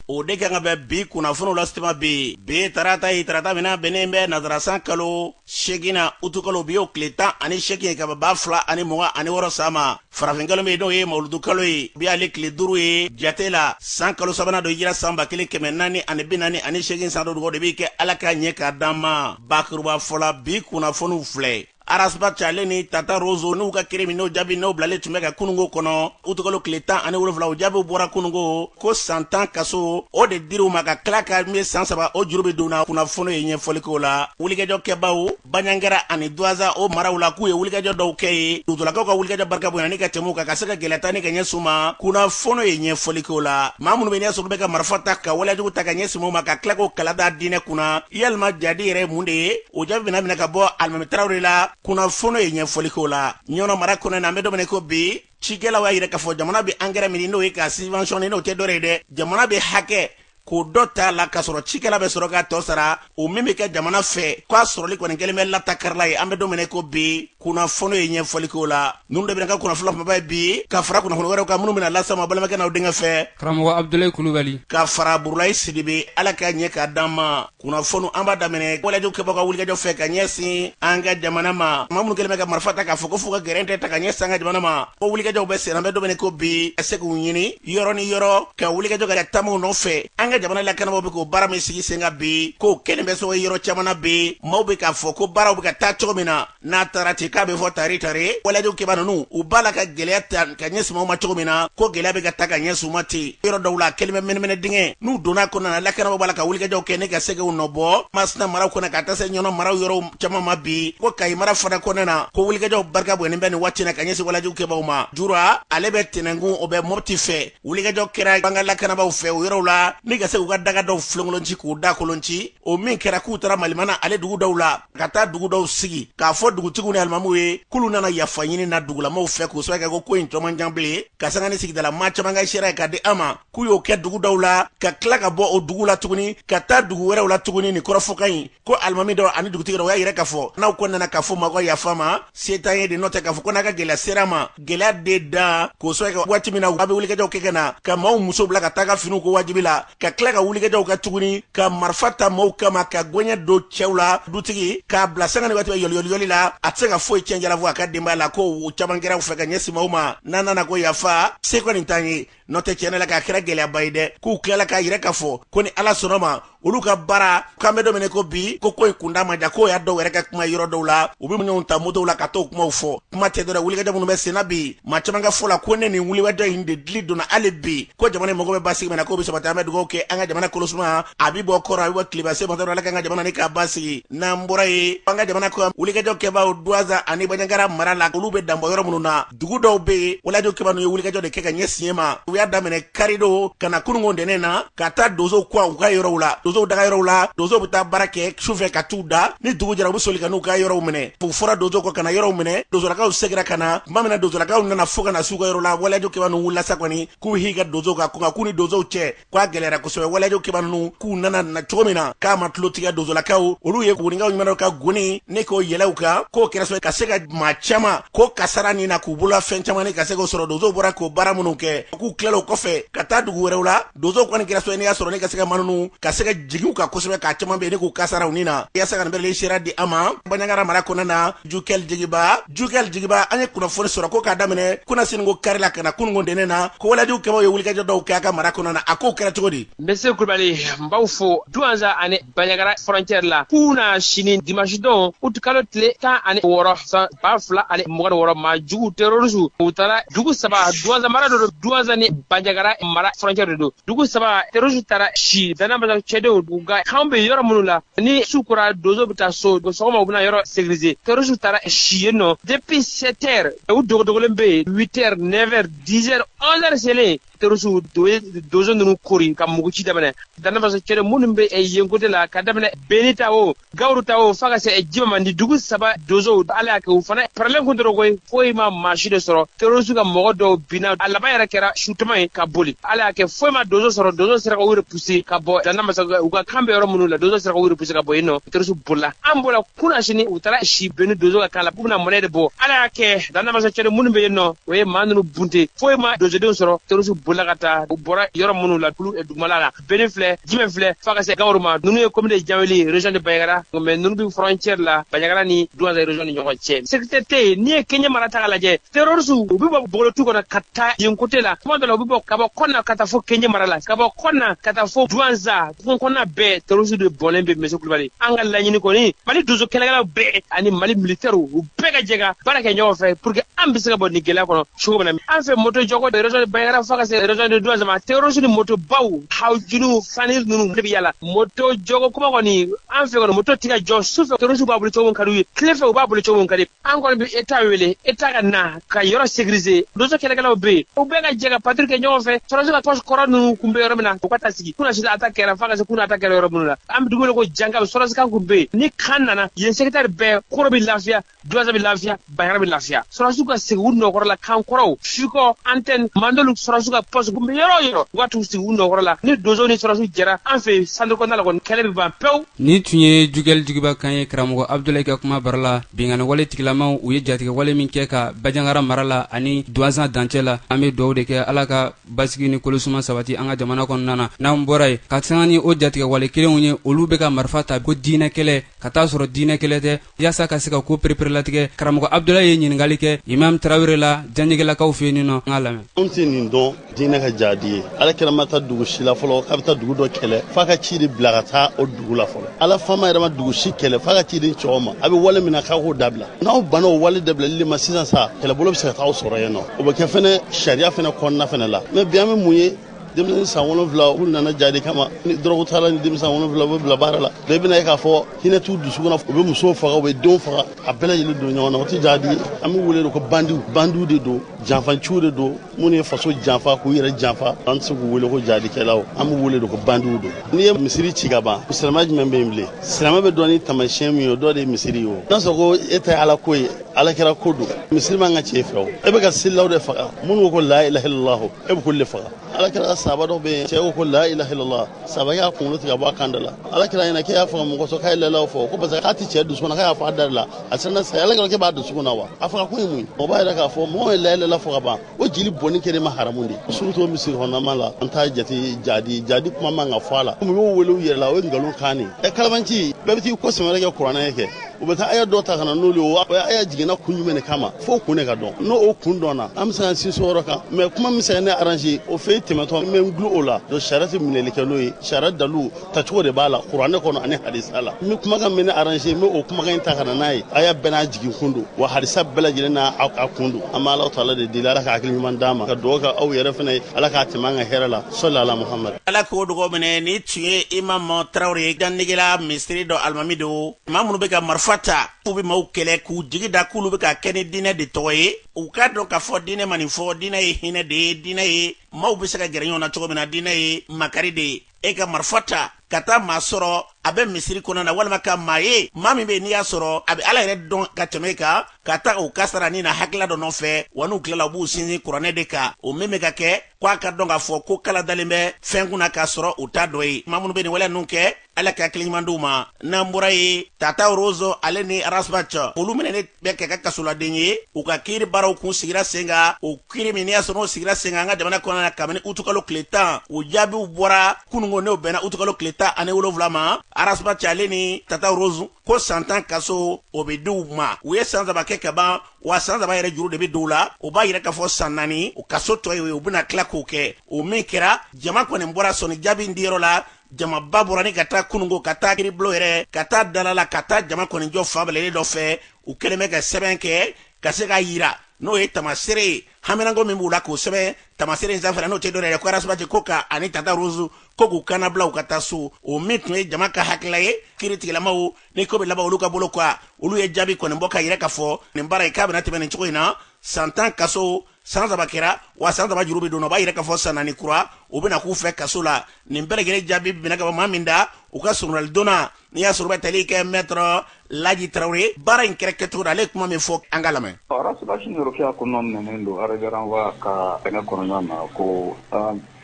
o de kan ka bɛ bi kunnafoniw lase tuma bi bi ye tarata ye tarata min na bɛnnen bɛ nansarasan kalo seginnan utukalo bi y'o tile tan ani segin ye ka bɛn ba fila ani mugan ani wɔɔrɔ san ma farafinkalo min n'o ye mawuludu kalo ye bi ale tile duuru ye jate la san kalo sabanan don hijira san ba kelen kɛmɛ naani ani bi naani ani segin san don dugaw de bɛ kɛ ala k'a ɲɛ k'a d'an ma bakurubafɔ la bi kunnafoniw filɛ arasbati ale ni tata rozo n'u ka kiiri min n'o jaabi n'o bilalen tun bɛ ka kunungo kɔnɔ utukalo tile tan ani wolonwula o jaabiw bɔra kunungo ko san tan kaso o de dir'u ma ka tila ka min san saba o juru bɛ don u na kunnafoni ye ɲɛfɔlikow la wulikajɔ kɛbaaw banjagara ani duwanza o maraw la k'u ye wulikajɔ dɔw kɛ yen dugutulakaw ka wulikajɔ barika bonya ni ka tɛm'u kan ka se ka gɛlɛya ta ni ka ɲɛsin u ma kunnafoni ye ɲɛfɔlikow la maa minnu bɛ n'i y'a sɔrɔ olu bɛ ka marifa ta ka waleyajugu ta ka ɲɛsin maaw ma ka tila k'o kala da diinɛ kunna yalima jihadi yɛrɛ ye mun de ye o jaabi bɛna minɛ ka bɔ alimami tarawele la kunnafoni ye ɲɛfɔliko la ɲɔnɔ mara kɔnɔ na an bɛ don min i ko bi cikɛlaw y'a yira k'a fɔ jamana bɛ angɛrɛ min n'o ye k'a subventionner n'o tɛ dɔwɛrɛ ye dɛ jamana bɛ hakɛko dɔ ta a la k'a sɔrɔ cikɛla bɛ sɔrɔ k'a tɔ sara o min bɛ kɛ jamana fɛ k'a sɔrɔli kɔni kɛlen bɛ latakarila ye an bɛ don min i ko bi kunnafoni ye ɲɛfɔliko la ninnu de bɛna kɛ kunnafoni kumaba ye bi ka fara kunnafoni wɛrɛw kan minnu bɛna las'aw ma balimakɛ n'aw denkɛ fɛ karamɔgɔ abudulayi kulubali ka fara burulayi sidibe ala k'a ɲɛ k'a d'an ma kunnafoni an b'a daminɛ waleyajugu kɛbagaw ka wulikajɔ fɛ ka ɲɛsin an ka jamana ma maa minnu kɛlen bɛ ka marifa ta k'a fɔ ko f'u ka gɛrɛntɛ ta ka ɲɛsin an ka jamana ma ko wulikajɔw bɛ senna an bɛ don min i ko bi ka se k'u ɲini yɔrɔ ni yɔrɔ ka wulikajɔ ka taamaw nɔfɛ an ka jamana lakanabaaw bɛ k'o baara min sigi sen kan bi k'o kɛlen bɛ sɔrɔ ye yɔrɔ caman na bi maaw bɛ k'a fɔ ko baaraw bɛ ka taa cogo min na n'a taara ten k'a bɛ fɔ tari tari waleyajugu kɛbaa ninnu u b'a la ka gɛlɛya ta ka ɲɛsin maaw ma cogo min na ko gɛlɛya bɛ ka ta ka ɲɛsin u ma ten yɔrɔ dɔw la u kɛlen bɛ mɛnɛmɛnɛ dingɛ n'u donna kɔnɔna na lakanabaaw b'a la ka wulikajɔw kɛ ni ka se k'u nɔbɔ masina maraw kɔnɔ ka taa se ɲɔnɔ maraw yɔrɔw caman ma bi ko kayi mara fana kɔnɔna na ko wulikajɔw barika bonyalen bɛ nin waati na ka ɲɛsin waleyajugu kɛbaaw ma jura ale bɛ tɛnɛnkun o bɛ mɔti fɛ wulikajɔ kɛra an ka lakanabaaw fɛ o yɔrɔw la ni ka se k'u ka daga dɔw filenkolonci k'u da kolonci o min kɛra k'u taara malimana ale dugu dɔw la ka taa dugu dɔw sigi k'a fɔ dugutigiw ni alimamiw ye k'olu nana yafa ɲini na dugulamaaw fɛ k'o sabu kɛ ko ko in tɔ man jan bilen ka sanga ni sigidala maa caman ka seereyakan di an ma k'u y'o kɛ dugu dɔw la ka tila ka bɔ o dugu la tuguni ka taa dugu wɛrɛw la tuguni ni kɔrɔfɔkan in ko alimami dɔ ani dugutigi dɔ o y'a yira k'a fɔ n'aw kɔni nana k'a fɔ an ma ko yafa ma se t'an ye de n'o tɛ k'a fɔ ko n'a ka gɛlɛya ser'an ma gɛlɛya de dan k'o sabu kɛ waati min na aw bɛ wulikajɔw kɛ ka na ka maaw musow bila ka taa ka finiw ko wajibi la ka tila ka wulikajɔw kɛ tuguni ka marifa ta maaw kama ka gɔɲɛ don cɛw la dutigi k'a bila sanga ni waati bɛ yɔliyɔliyɔli la a tɛ se ka foyi cɛn jalafo a ka denbaya la ko o caman kɛra u fɛ ka ɲɛsin maaw ma n'aw nana ko yafa se kɔni t'an ye n'o tɛ tiɲɛ la k'a kɛra gɛlɛyaba ye dɛ k'u tilala k'a yira ka fɔ ko ni ala sɔnna ma olu ka baara k'an bɛ domine ko bi ko ko ye kunda ma ja k'o y'a dɔw yɛrɛ ka kuma yɔrɔ dɔw la u bɛ ɲɔgɔn ta motow la ka t'o kumaw fɔ kuma tɛ dɔrɔn wulikajɔ minnu bɛ senna bi maa caman ka fɔ la ko ni nin wulikajɔ in de dili donna hali bi ko jamana mago bɛ basigi min na k'o bɛ sabati an bɛ dugawu kɛ an ka jamana kolosuma a bɛ bɔ kɔrɔn a bɛ bɔ tilebin se matɔ ala k'an ka jamana in k'a basigi n'an bɔra yen an ka jamana ko wulikajɔ kɛbaaw duwanza ani baɲangara mara la olu bɛ danbɔ yɔrɔ minnu na dugu dɔw be yen walejugu kɛbaa ninnu ye wulikajɔ de kɛ ka ɲɛsin yen ma u y'a daminɛ karidon ka na kunungo ntɛnɛn na ka taa donsow kɔ u ka yɔrɔw la donsow daga yɔrɔw la donsow be taa baara kɛ sufɛ ka t'u da ni dugu jɛra u be soli ka n'u ka yɔrɔw minɛ u fɔra donsow kɔ ka na yɔrɔw minɛ donsolakaw segira ka na tuma min na donsolakaw nana fo ka na s'u ka yɔrɔ la walejugu kɛbaa ninnu wulila sa kɔni k'u h'i ka donsow kan ko nka k'u ni donsow cɛ k'a gɛlɛyara kosɛbɛ walejugu kɛbaa ninnu k'u nana na cogo min na k'a ma tulotigɛ donsolakaw olu ye kuguninkaw ɲumanw ka goni ne k'o yɛlɛw kan k'o kɛra sababu ka se ka maa caman ko kasara nin na k'u bolola fɛn caman ka se k'o sɔrɔ donsow bɔra k'o baara minnu kɛ k'u tilala o kɔfɛ ka taa dugu wɛrɛw la donsow kɔni kɛra sababu ne y'a sɔrɔ ne ka se ka maa ninnu ka se ka jigin u kan kosɛbɛ ka caman bɛ ne k'u kasara u nin na yasa ka bɛle sera di an ma baɲagara mara kɔnɔna na jukɛli jigiba jukɛli jigiba an ye kunnafoni sɔrɔ ko k'a daminɛ kunasinigo kari la ka na kunungo ntɛnɛn na ko walejugu kɛbaaw ye wulikajɔ dɔw kɛ aw ka mara kɔnɔ na a kow kɛra cogo di monsieur kulubali n b'aw fo duwanza ani baɲagara frontière la kunasini dimanche don utikalo tile tan ani wɔɔrɔ san ba fila ani mugan ni wɔɔrɔ maa jugu terorisiw u taara dugu saba duwanza mara de don duwanza ni baɲagara mara frontière de don dugu saba terroriste taara si danamasa cɛdenw u ka kan bɛ yɔrɔ minnu la ni su kora dozo bɛ taa so sɔgɔma u bɛna yɔrɔ sécuriser terroriste taara si yen nɔ depuis 7 heures u dogodogolen bɛ yen 8 heures 9 heures 10 heures 11 heures selen terroriste u ye dozo ninnu koori ka muguci daminɛ danamasa cɛdenw minnu bɛ yen côté la ka daminɛ beni ta o gawuru ta o fo ka se jima ma nin dugu saba donsow ala y'a kɛ u fana parelen kun don koyi foyi ma maa si de sɔrɔ terorisiw ka mɔgɔ dɔw binna a laban yɛrɛ kɛra sutama ye ka boli ala y'a kɛ foyi ma donso sɔrɔ donso sera ka u repuse ka bɔ danamasa u ka kan bɛ yɔrɔ minnu la donso sera ka u repuse ka bɔ yen nɔ terorisiw bolila an bɔra kunasini u taara si beni donso ka kan la k'u bɛna mɔnɛ de bɔ ala y'a kɛ danamasa cɛden minnu bɛ yen nɔ u ye maa ninnu bunte foyi ma donsodenw sɔrɔ terorisiw bolila ka taa u bɔra yɔrɔ minnu la kulu dugumala la beni filɛ jimɛ filɛ fo ka se gawuru ma ninnu ye commune janweli région de baɲagara mais ninnu bi frontière la baɲagara ni duwanza région ni ɲɔgɔn cɛ sécurité tɛ yen n'i ye kɛɲɛ mara ta ka lajɛ terroriste u bɛ bɔ bogolotu kɔnɔ ka taa yen côté la kuma dɔ la u bɛ bɔ ka bɔ kɔna ka taa fo kɛɲɛ mara la ka bɔ kɔna ka taa fo duwanza kungo kɔnɔna bɛɛ terroriste de bɔnlen bɛ monsieur kulubali an ka laɲini kɔni mali donso kɛlɛkɛlaw bɛɛ ani mali militɛriw u bɛɛ ka jɛ ka baara kɛ ɲɔgɔn fɛ pour que an bɛ se ka bɔ nin gɛlɛya kɔnɔ cogo min na an fɛ moto jɔko de région de bayagara fo ka se région de duwanza ma terroriste ni moto baw hawjunuw fani ninnu de bɛ yala moto jɔko kuma kɔni an fɛ kɔni moto tɛ ka jɔ su fɛ terroriste b'a boli cogo min ka d'u ye tile fɛ u b'a boli cogo min ka di an kɔni bɛ eta wele eta ka na ka yɔrɔ sécuriser donso kɛlɛkɛlaw bɛ yen u bɛɛ ka jɛ ka patrouille kɛ ɲɔgɔn fɛ terroriste ka poste kɔrɔ ninnu kun bɛ yɔrɔ min na u ka taa sigi kunasini attaque kɛra fo ka se kuna attaque kɛra yɔrɔ minnu na an bɛ dugu wele ko jankaw sɔrɔsi kan kun bɛ yen ni kan nana yen secteur bɛɛ koro bɛ lafiya duwanza bɛ lafiya bayagara bɛ lafiya sɔrɔsiw ka segin u nɔ kɔrɔ la kan kɔrɔw fikɔ antɛni mandolu sɔrɔsiw ka pɔsi kun bɛ yɔrɔ yɔrɔ u ka t'u sigi u nɔ kɔrɔ la ni donso ni sɔrɔsiw jɛra an fɛ yen santiri kɔnɔna la kɔni kɛlɛ bɛ ban pewu nin tun ye jugɛli jigiba kan ye karamɔgɔ abudulayi ka kuma bara la binkanni wale tigilamaw u ye jatigɛ wale min kɛ ka bajangara mara la ani duwanza dancɛ la an bɛ duwawu de kɛ ala ka basigi ni kolosuma sabati an ka jamana kɔnɔna na n'an bɔra yen ka sanga ni o jatigɛ wale kelenw ye olu bɛ ka marifa ta ko diinɛ kɛlɛ ka taa sɔrɔ diinɛ kɛlɛ tɛ yasa ka se ka ko pereperelatigɛ karamɔgɔ abdulayi ye ɲiningali kɛ imam tarawele la janɛgɛlakaw fɛ nin nɔ an k'a lamɛn anw tɛ nin dɔn diinɛ ka jaadi ye ala kira ma taa dugu si la fɔlɔ k'a bɛ taa dugu dɔ kɛlɛ f'a ka ci de bila ka taa o dugu la fɔlɔ ala fama yɛrɛ ma dugu si kɛlɛ f'a ka ciden ci aw ma a bɛ wale min na k'a k'o dabila n'aw banna o wale dabilali de ma sisan sa kɛlɛbolo bɛ se ka taa aw sɔrɔ yen n'o bɛ kɛ fɛnɛ sariya fɛnɛ kɔnɔna fɛnɛ la mɛ bi an bɛ mun ye denmisɛnnin san wolonwula u nana jadi kama ni dɔrɔgu t'a la ni denmisɛn san wolonwula u bɛ bila baara la donc i bɛna ye k'a fɔ hinɛ t'u dusu kɔnɔ u bɛ musow faga u bɛ denw faga a bɛɛ lajɛlen don ɲɔgɔn na o tɛ jadi ye an b'u wele de ko bandiw bandiw de don janfanciw de don minnu ye faso janfa k'u yɛrɛ janfa an tɛ se k'u wele ko jadikɛlaw an b'u wele de ko bandiw don n'i ye misiri ci ka ban silamɛ jumɛn bɛ yen bilen silamɛ bɛ dɔn ni taamasiyɛn min ye o dɔ de ye misiri ye o n'a sɔrɔ ko e ta ye ala ko ye ala kira ko don misiri man ka ci e fɛ o e bɛ ka selilaw de faga minnu ko ko la ilaha illallah e bɛ k'olu de faga ala kira ka sahaba dɔ bɛ yen cɛ ko ko la ilaha illallah sahaba y'a kunkolo tigɛ ka bɔ a kan da la ala kira ɲɛ na k'e y'a faga mun kosɔn k'a ye la ilaha fɔ ko parce que k'a tɛ cɛ dusukun na k'a y'a fɔ a da de la a siranna saya ala kira k'e b'a dusukun na wa a faga kun ye mun ye o b'a yira k'a fɔ mɔgɔ ye la ilaha fɔ ka ban o joli bɔnni kɛlen bɛ haramu de ye surtout misiri kɔnɔnama la an t'a jate jadi jadi kuma man ka fɔ a la komi u y'o wele u yɛrɛ la o ye nkalon kan de ye ɛ kalabanci bɛɛ bɛ t'i kɔ sɛmɛrɛ kɛ kuranɛ kɛ u bɛ taa aya dɔ ta ka na n'olu ye o aya jiginna kun jumɛn de kama fo o kun de ka dɔn n'o o kun dɔnna an bɛ se ka sinsin o yɔrɔ kan mɛ kuma min bɛ se ka ne aranze o fɛ tɛmɛtɔ n bɛ n gulo o la donc sariya tɛ minɛli kɛ n'o ye sariya dalu tacogo de b'a la kuranɛ kɔnɔ ani hadisa la n bɛ kumakan min ne aranze n bɛ o kumakan in ta ka na n'a ye aya bɛɛ n'a jigin kun don wa hadisa bɛɛ lajɛlen n'a kun don an bɛ ala taala de deli ala ka hakili ɲuman d'an ma ka dugawu kɛ aw yɛrɛ fana ye ala k'an dɛmɛ an ka hɛrɛ la sɔli ala muhamadu ala k'o dugawu minɛ nin tun ye imam tarawele ye janegela misiri dɔ alimami don maa minnu bɛ ka marifa ta k'u bɛ maaw kɛlɛ k'u jigi da k'olu bɛ k'a kɛ ni diinɛ de tɔgɔ ye u k'a dɔn k'a fɔ diinɛ ma nin fɔ diinɛ ye hinɛ de ye diinɛ ye maaw bɛ se ka gɛrɛ ɲɔgɔn na cogo min na diinɛ ye makari de ye e ka marifa ta ka taa maa sɔrɔ a bɛ misiri kɔnɔna walima ka maa ye maa min bɛ n'i y'a sɔrɔ a bɛ ala yɛrɛ dɔn ka tɛmɛ e kan ka taa o kasara ni na hakilila dɔ nɔfɛ wa n'u tilala u b'u sinsin kuranɛ de kan o min bɛ ka kɛ ko a k'a dɔn k'a fɔ ko kala dalen bɛ fɛn kunna k'a sɔrɔ u t'a dɔ ye maa minnu bɛ nin waleya ninnu kɛ ala ka hakiliɲuman d'u ma n'an bɔra yen tata rose ale ni ras bath olu minɛnen bɛ kɛ ka kasoladen ye u ka kiiri baaraw kun sigira sen kan o kiiri min n'i y'a sɔrɔ o sigira sen kan an ka jamana kɔnɔna na kabini utukalo tile tan o jaabiw bɔra kununko n'o bɛnna utukalo tile tan ani wolonwula ma ras bath ale ni tata rose ko san tan kaso o bɛ di u ma u ye san saba kɛ ka ban wa san saba yɛrɛ juru de bɛ don u la o b'a yira k'a fɔ san naani u kaso tɔ ye u bɛna tila k'o kɛ o min kɛra jama kɔni bɔra sɔnni jaabi in diyɔrɔ la jamaba bɔra ni ka taa kununko ka taa kiiribulon yɛrɛ ka taa dalala ka taa jama kɔni jɔ fan bilalen dɔ fɛ u kɛlen bɛ ka sɛbɛn kɛ ka se k'a yira n'o ye tamasere ye haminanko min b'u la k'o sɛbɛn tamasere in sanfɛ n'o tɛ dɔwɛrɛ ye ko ras bath ko ka ani tata rose ko k'u ka labila u ka taa so o min tun ye jama ka hakilila ye kiiritigilamaw ni ko bɛ laban olu ka bolo kan olu ye jaabi kɔni bɔ k'a yira k'a fɔ nin baara ye k'a bɛna tɛmɛ nin cogo in na san tan kaso san saba kɛra wa san saba juru bɛ don o b'a yira k'a fɔ san naani kura o bɛna k'u fɛ kaso la nin bɛɛ lajɛlen jaabi binna ka ban maa min da u ka soronadonna n'i y'a sɔrɔ bɛ tali kɛ maître laji traoré baara in kɛra kɛcogo la ale ye kuma min fɔ an k'a lamɛn ras bath ni rokiya kun nɔminɛnen don ara wa ka kɛnɛ kɔnɔna na ko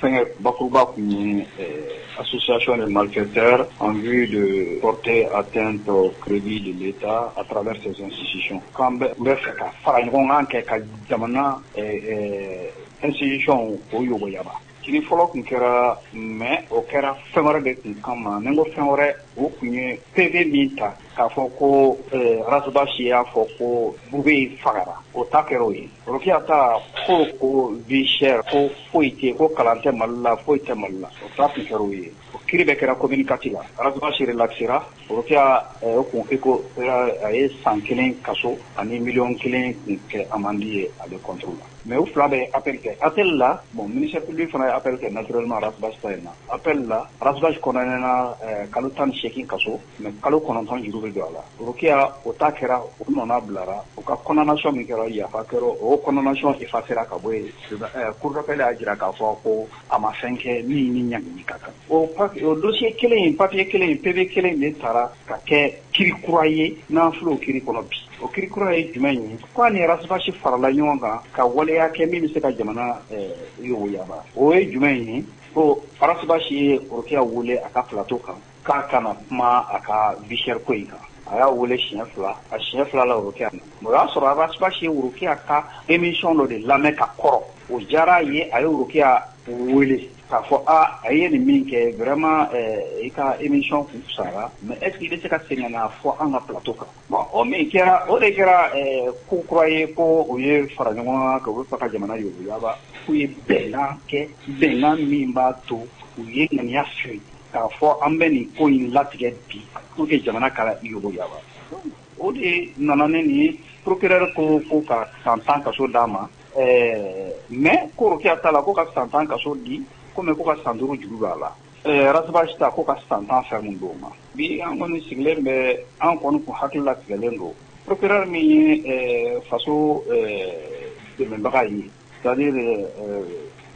fɛngɛ bakuruba kun ye ɛɛ association de malfaiteurs en vue de porter atteinte au crédit de l'État à travers ses institutions k'an bɛ n bɛ fɛ ka fara ɲɔgɔn kan kɛ ka jamana ɛɛ institutions k'o yogoyaba kiiri fɔlɔ kun kɛra mais o kɛra fɛn wɛrɛ de kun kama ni n ko fɛn wɛrɛ o kun ye PV min ta k'a fɔ ko ɛɛ Ras Bath y'a fɔ ko Boubèye fagara o ta kɛra o ye Rokiya ka ko ko vi ko foyi tɛ ko kalan tɛ mali la foyi tɛ mali la o taa kɛra ye o ki bɛ kɛra ko mini kati la araraba siri lasesira orokiya kun ko a ye san kelen kaso ani miy kelen tun kɛ a mandi ye a bɛ kɔntu la mɛ u fila bɛ apri kɛ apl la bon minip fana ye apl kɛ nato ararabasita in na apl la ararabasikna kalo tan ni8egin kaso mais kalo 9 juru bɛ don a la rokiya o ta kɛra o nɔna bilara o ka condamnation min kɛra yafa kɛra o o condamnation effacera ka bɔ yen ɛɛ cour d'appel y'a jira k'a fɔ ko a ma fɛn kɛ min ni ɲangili ka kan o dossier kelen in papier kelen in PV kelen in de tara ka kɛ kiiri kura ye n'an filɛ o kiiri kɔnɔ bi o kiiri kura ye jumɛn ye ko a ni Ras Bath farala ɲɔgɔn kan ka waleya kɛ min bɛ se ka jamana ɛɛ yogoyaba o ye jumɛn ye ko Ras Bath ye rokiya wele a ka plateau kan K'a ka na kuma a ka vie chère ko in kan, a y'a wele siɲɛ 2, a siɲɛ 2 nan rokiya nana, o y'a sɔrɔ Ras Bath ye rokiya ka emission dɔ de lamɛn ka kɔrɔ, o diyar'a ye, a ye rokiya wele k'a fɔ aa i ye nin min kɛ vraiment i ka emission kun fisayara mais est ce que i bɛ se ka segin ka n'a fɔ an ka plateau kan bon o min kɛra, o de kɛra ko kura ye ko u ye fara ɲɔgɔn kan, k'u bɛ fɛ ka jamana yuguyaba, k'u ye bɛnkan kɛ, bɛnkan min b'a to u ye ŋaniya siri. k'a fɔ an bɛ nin ko in latigɛ bi pour que jamana ka yuguyaba o de nana ni nin ye procureur ko ko ka san tan kaso d'a ma ɛɛ mais ko rokiya ta la ko ka san tan kaso di ko mais ko ka san duuru juru don a la ɛɛ Ras Bath ta ko ka san tan ferme d'o ma bi an kɔni sigilen bɛ an kɔni kun hakili latigɛlen don procureur min ye ɛɛ faso ɛɛ dɛmɛbaga ye C'est-à-dire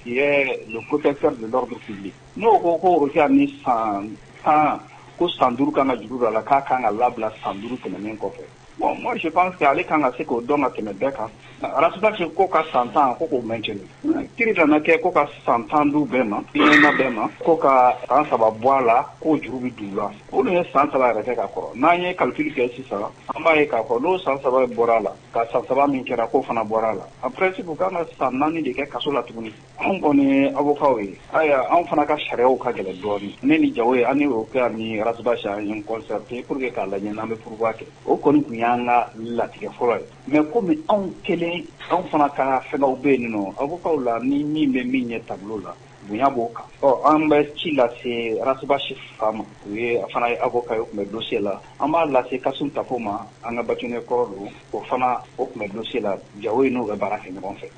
qui est le protecteur de l'ordre public n'o ko ko rokiya ni san tan ko san duuru kan ka juru don a la k'a ka kan ka labila san duuru tɛmɛnen kɔfɛ bon moi je pense que ale kan ka se k'o dɔn ka tɛmɛ bɛɛ kan Ras Bath ko ka san tan ko k'o maintenir kiri nana kɛ ko ka san tan d'u bɛɛ ma bɛɛ ma ko ka san saba bɔ a la k'o juru bɛ don u la olu ye san saba yɛrɛ kɛ ka kɔrɔ n'an ye calcul kɛ sisan an b'a ye k'a fɔ n'o san saba bɔra a la ka san saba min kɛra k'o fana bɔra a la en principe u kan ka san naani de kɛ kaso la tuguni anw kɔni avokaw ye ayiwa anw fana ka sariyaw ka gɛlɛn dɔɔnin ne ni Jawoye an ni rokiya ni Ras Bath an ye concerter pour que k'a lajɛ n'an bɛ pourvoi kɛ o kɔni kun y'an ka latigɛ fɔlɔ ye mais kɔmi anw kelen anw fana ka fɛnw bɛ yen nin nɔn avokaw la ni min bɛ min ɲɛ tableau la Bonya b'o kan ɔ an bɛ ci lase Ras Bath fa ma o yɛrɛ fana ye avoka ye o tun bɛ dossier la an b'a lase Kasum Tapo ma an ka bâtonnier kɔrɔ don o fana o tun bɛ dossier la Jawoye n'o bɛ baara kɛ ɲɔgɔn fɛ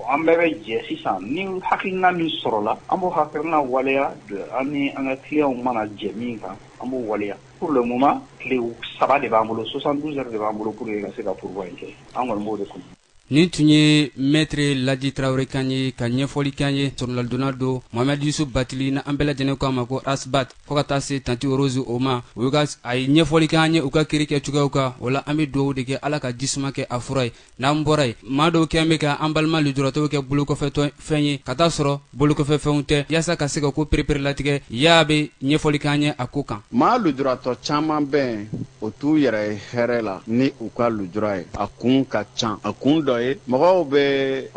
an bɛɛ bɛ jɛ sisan ni hakiina min sɔrɔla an b'o hakiina waleya donc an ni an ka clients mana jɛ min kan an b'o waleya pour le moment tile saba de b'an bolo soixante-douze heures de b'an bolo pour que ka se ka pourvoi in kɛ an kɔni b'o de kun nin tun ye maître Laji tarawele kan ye ka ɲɛfɔli kan ye soronnadonna don mohamɛd yusuf batili na an bɛɛ lajɛlen ko a ma ko Ras Bath fo ka taa se tanti rose o ma o ye ka a ye ɲɛfɔli kan ye u ka kiri kɛ cogoyaw kan o la an bɛ dugawu de kɛ ala ka jisuma kɛ a fura ye n'an bɔra ye maa dɔw kɛn bɛ ka an balima lujuratɔw kɛ bolokɔfɛtɔ fɛn ye ka t'a sɔrɔ bolokɔfɛfɛnw tɛ yaasa ka se ka ko pereperelatigɛ y'a bɛ ɲɛfɔli k'an ye a ko kan maa lujuratɔ caman bɛ yen u t'u yɛrɛ ye hɛrɛ la ni u ka lujura ye a kun ka ca a kun dɔ ye mɔgɔw bɛ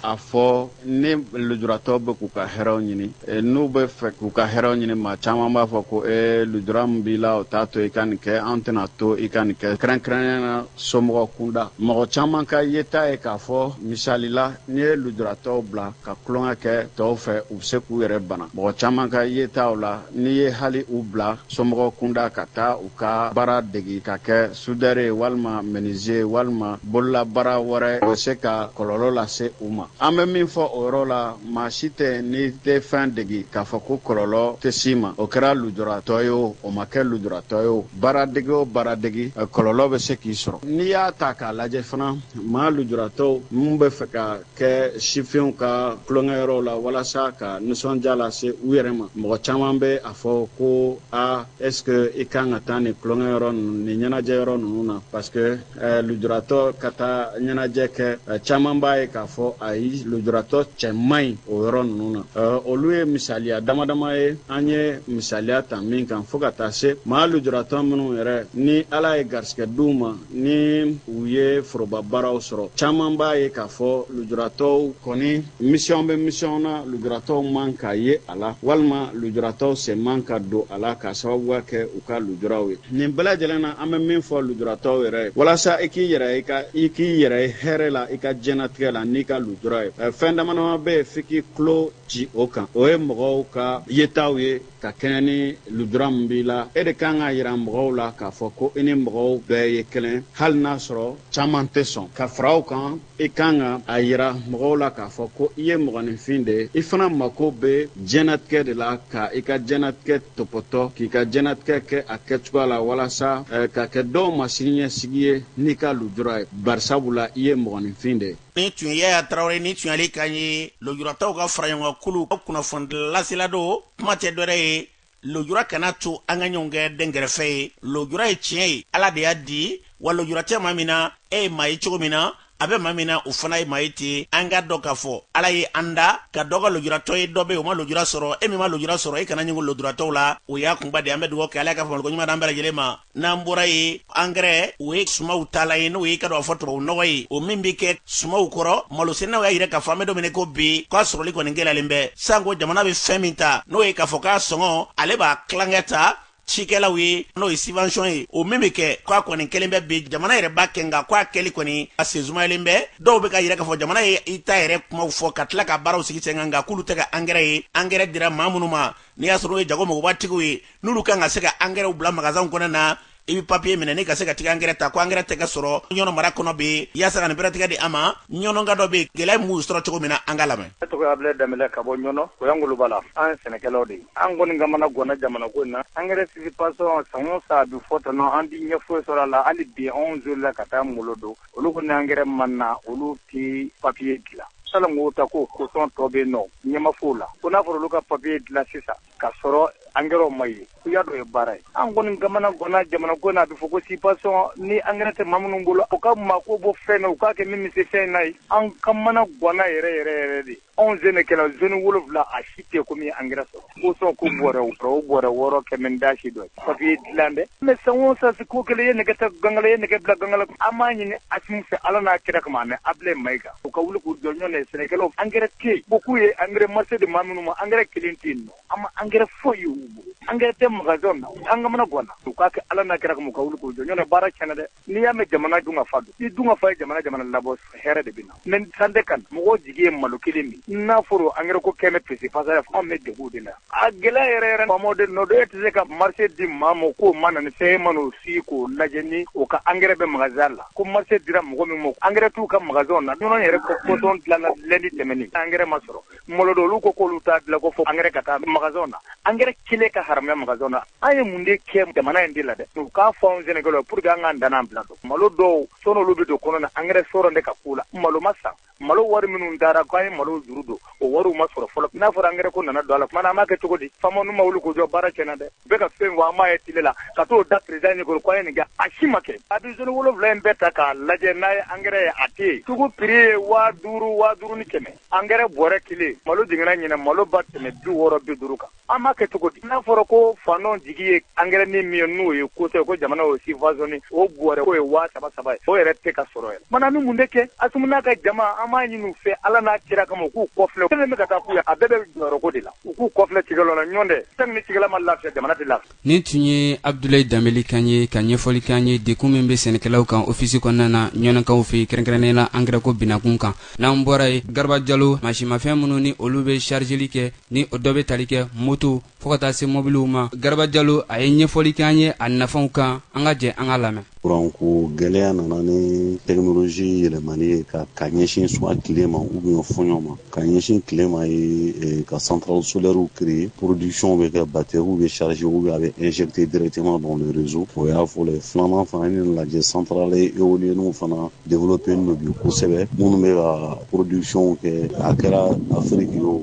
a fɔ ni lujuratɔw bɛ k'u ka hɛrɛw ɲini e, n'u bɛ fɛ k'u ka hɛrɛw ɲini maa caman b'a fɔ ko e lujura min b'i la o t'a to i ka nin kɛ an tɛn'a to i ka nin kɛ kɛrɛnkɛrɛnnenya na somɔgɔ kunda mɔgɔ caman ka yeta ye k'a fɔ misali la n'i ye lujuratɔw bila ka tulonkɛ kɛ tɔw fɛ u bɛ se k'u yɛrɛ bana mɔgɔ caman ka yetaw la n'i ye hali u bila somɔgɔ kunda ka taa u ka baara degi ka kɛ sudɛre walima meniziye walima bololabaara wɛrɛ o bɛ se ka kɔlɔlɔ lase u ma an bɛ min fɔ o yɔrɔ la maa si tɛ n'i tɛ fɛn degi k'a fɔ ko kɔlɔlɔ tɛ s'i ma o kɛra lujuratɔ ye o o ma kɛ lujuratɔ ye o baara dege o baara degi kɔlɔlɔ bɛ se k'i sɔrɔ n'i y'a ta k'a lajɛ fana maa lujuratɔw minnu b'a fɛ ka kɛ sifinw ka tulonkɛyɔrɔw la walasa ka nisɔndiya lase u yɛrɛ ma mɔgɔ caman bɛ a fɔ ko a est-ce que i kan ka taa nin tulonkɛyɔrɔ ninnu ni ɲɛnajɛyɔrɔ ninnu na parce que eh, lujuratɔ ka taa ɲɛnajɛ kɛ eh, caman b'a ye k'a fɔ ayi lujuratɔ cɛ man ɲi o yɔrɔ ninnu na eh, olu ye misaliya dama dama ye an ye misaliya ta min kan fo ka taa se maa lujuratɔ minnu yɛrɛ ni ala ye garisigɛ d'u ma ni u ye foroba baaraw sɔrɔ caman b'a ye k'a fɔ lujuratɔw kɔni misiyɔn bɛ misiyɔn na lujuratɔw man ka ye a la walima lujuratɔw sen man ka don a la k'a sababuya kɛ u ka lujuraw ye nin bɛɛ lajɛlen na an bɛ min fɔ lujuratɔw yɛrɛ ye walasa i k'i yɛrɛ i ka i k'i yɛrɛ ye hɛrɛ la i ka diɲɛnatigɛ la n'i ka lujura ye fɛn damadama bɛ yen f'i k'i tulo ci o kan o ye mɔgɔw ka yetaw ye ka kɛɲɛ ni lujura min b'i la e de kan k'a yira mɔgɔw la k'a fɔ ko i ni mɔgɔw bɛɛ ye kelen hali n'a sɔrɔ caman tɛ sɔn ka fara o kan i kan ka a yira mɔgɔw la k'a fɔ ko i ye mɔgɔninfin de ye i fana mako bɛ diɲɛnatigɛ de la ka i ka diɲɛnatigɛ tɔpɔtɔ k'i ka diɲɛnatigɛ kɛ a kɛcogoya la walasa eh, ka kɛ dɔw ma siniɲɛsigi ye n'i ka lujura ye barisabula i ye mɔgɔninfin de ye nin tun ye yaya tarawele nin tun y'ale kan ye lojuratɔw ka faraɲɔgɔnkan kulu ka kunnafoni lasela don kuma tɛ dɔwɛrɛ ye lojura kana a to an ka ɲɔgɔn kɛ dɛnkɛrɛfɛ ye lojura ye tiɲɛ ye ala de y'a di wa lojura tɛ maa min na e ye maa ye cogo min na a bɛ maa min na o fana ye maa ye ten an k'a dɔn k'a fɔ ala ye an da ka dɔ kɛ lujuratɔ ye dɔ bɛ o ma lujura sɔrɔ e min ma lujura sɔrɔ e kana ɲugun lujuratɔw la o y'a kunba de an bɛ dugawu kɛ ala ka faamuyaliko ɲuman d'an bɛɛ lajɛlen ma n'an bɔra yen angɛrɛ o ye sumaw taalan ye n'o ye i k'a dɔn a fɔ tubabu nɔgɔ ye o min bɛ kɛ sumaw kɔrɔ malosɛnɛnaw y'a yira k'a fɔ an bɛ don min i ko bi k'a sɔrɔli kɔni gɛlɛyalen bɛ sanko jamana bɛ fɛn min ta n'o ye k'a fɔ k'a sɔngɔ ale b'a tilankɛ ta cikɛlaw ye n'o ye sivansiyɔn ye o min bɛ kɛ k'a kɔni kɛlen bɛ bi jamana yɛrɛ b'a kɛ nka k'a kɛli kɔni a sen sumayalen bɛ dɔw bɛ k'a yira k'a fɔ jamana ye i ta yɛrɛ kumaw fɔ ka tila ka baaraw sigi sen kan nka k'olu tɛ ka angɛrɛ ye angɛrɛ dira maa minnu ma n'i y'a sɔrɔ n'o ye jago mɔgɔbatigiw ye n'olu kan ka se ka angɛrɛw bila magasanw kɔnɔna i bɛ papiye minɛ n'i ka se ka t'i ka angɛrɛ ta ko angɛrɛ tɛ ka sɔrɔ ɲɔnɔ mara kɔnɔ bɛ yen yaasa ka nin bɛrɛtigɛ di a ma ɲɔnɔka dɔ bɛ yen gɛlɛya m'u sɔrɔ cogo min na an k'a lamɛn ne tɔgɔ abulayi danbɛlɛ ka bɔ ɲɔnɔ o y'an ngolobala an ye sɛnɛkɛlaw de an kɔni kamana gɔnna jamana ko in na angɛrɛ sivansiyɔn san o san a bɛ fɔ tɔnɔ an tɛ ɲɛ foyi sɔrɔ a la hali bi anw zolila ka taa ngolo don olu ko n'angɛrɛ ma na olu tɛ papiye dilan salon o ta ko kosɔn tɔ bɛ nɔ ɲɛma fow la ko n'a fɔra olu ka papiye dilan sisan ka sɔrɔ angɛrɛw ma ye u y'a dɔ ye baara ye an kɔni kamanaganna jamana ko in na a bɛ fɔ ko subvention ni angɛrɛ tɛ maa minnu bolo u ka mako bɔ fɛn na u k'a kɛ min bɛ se fɛn in na ye an kamanaganna yɛrɛ yɛrɛ yɛrɛ de anw sɛnɛkɛlaw zone wolowula a si tɛ ko min ye angɛrɛ sɔrɔ kosɔn ko bɔrɛ o bɔrɛ wɔɔrɔ kɛmɛ dasi dɔ papiye dilan dɛ mɛ san o san si ko kelen ye nɛgɛ ta ganga la ye nɛgɛ bila ganga la an b'a ɲini asimi fɛ ala n'a kira kama mɛ abdulayi mayiga u ka wuli k'u jɔ ɲɔntɛ sɛnɛkɛlaw angɛrɛ tɛ yen ko k'u ye angɛrɛ marché di maa minnu ma angɛrɛ kelen tɛ yen an ma angɛrɛ foyi ye u bolo angɛrɛ tɛ magasin na an kamanaganna u k'a kɛ ala n'a kira kama u ka wuli k'u jɔ ɲɔntɛ baara tiɲɛna dɛ n'i y'a mɛn jamana dunkafa don ni dunkafa ye jamana jamana labɔ hɛrɛ de bɛ na mɛ san tɛ kan mɔgɔ jigi ye malo kelen min n'a fɔra angɛrɛ ko kɛmɛ psi pasa ye anw bɛ degun de la a gɛlɛya yɛrɛ yɛrɛ faamaw de nɔ don e tɛ se ka marché di maa ma k'o ma na ni fɛn ma o si k'o lajɛ ni o ka angɛrɛ bɛ magasin la ko marché dira mɔgɔ min ma angɛrɛ t'u ka magasin na ɲɔnɔn yɛrɛ ko kosɔn dilanna lundi tɛmɛnen angɛrɛ ma sɔrɔ molodo olu ko k'olu t'a dilan ko fo angɛrɛ ka taa magasin na angɛrɛ kelen ka haramuya magasin na an ye mun de kɛ jamana in de la dɛ u k'a fɔ anw sɛnɛkɛlaw pour que an k'an ta n'a bila dɔn malo dɔw sɔɔni olu bɛ don kɔnɔ na angɛrɛ sɔrɔ tɛ ka k'u la malo ma san malo wari minnu dara k'an ye malo juru don o wari ma sɔrɔ fɔlɔ n'a fɔra angɛrɛ ko nana don a la tuma na an b'a kɛ cogo di faamaw n'u ma wuli k'u jɔ baara tiɲɛna dɛ u bɛ ka fɛn an b'a ye tele la ka t'o da président ɲɛ k'u ye nin kɛ a si ma kɛ a bɛ zone wolowula in bɛɛ ta k'a lajɛ n'a ye angɛrɛ ye a tɛ yen sugu prix ye waa duuru waa duuru ni kɛmɛ Angɛrɛ bɔrɛ kelen malo jiginna ɲinɛ malo ma tɛmɛ bi wɔɔrɔ bi duuru kan an b'a kɛ cogo di n'a fɔra ko faantanw jigi ye angɛrɛ ni min ye n'o ye kosɔn ko jamana y'o subventionner o bɔrɛ k'o ye waa saba saba ye o yɛrɛ tɛ ka sɔrɔ yɛrɛ tuma na an bɛ mun de kɛ Assimi n'a ka jama an b'a ɲini u fɛ Ala n'a kira kama u k'u kɔfilɛ fɛn min bɛ ka taa k'u ye a bɛɛ bɛ jɔyɔrɔko de la u k'u kɔfilɛ cikɛlaw la ɲɔntɛ tant que ni cikɛla ma lafiya jamana tɛ lafiya nin tun ye abdulayi danbɛlɛ kan ye ka ɲɛfɔli k'an ye degun min bɛ sɛnɛkɛlaw kan ofisi kɔnɔna na ɲɔnɔnkaw fɛ yen kɛrɛnkɛrɛnnen la angɛrɛko binakun kan n'an bɔra yen garaba jalo mansinmafɛn minnu ni olu bɛ sarizeli kɛ ni o dɔ bɛ tali kɛ moto fɔɔ ka taa se mɔbiliw ma garaba jalo a ye ɲɛfɔli k'an ye a nafaw kan an ka jɛ an k'a lamɛn kuranko gɛlɛya nana ni tɛkinoloji yɛlɛmani ye ka ka ɲɛsin soit tile ma ou bien fɔɲɔ ma ka ɲɛsin tile ma ye eh, ka santarale solɛriw créer production bɛ kɛ bateriw bɛ charger ou bien a bɛ injecter directement dans le réseau o y'a fɔlɔ ye filanan fana n'i y'a lajɛ santarale eoliyeniw fana développé nin bi kosɛbɛ minnu bɛ ka production kɛ a kɛra afiriki ye o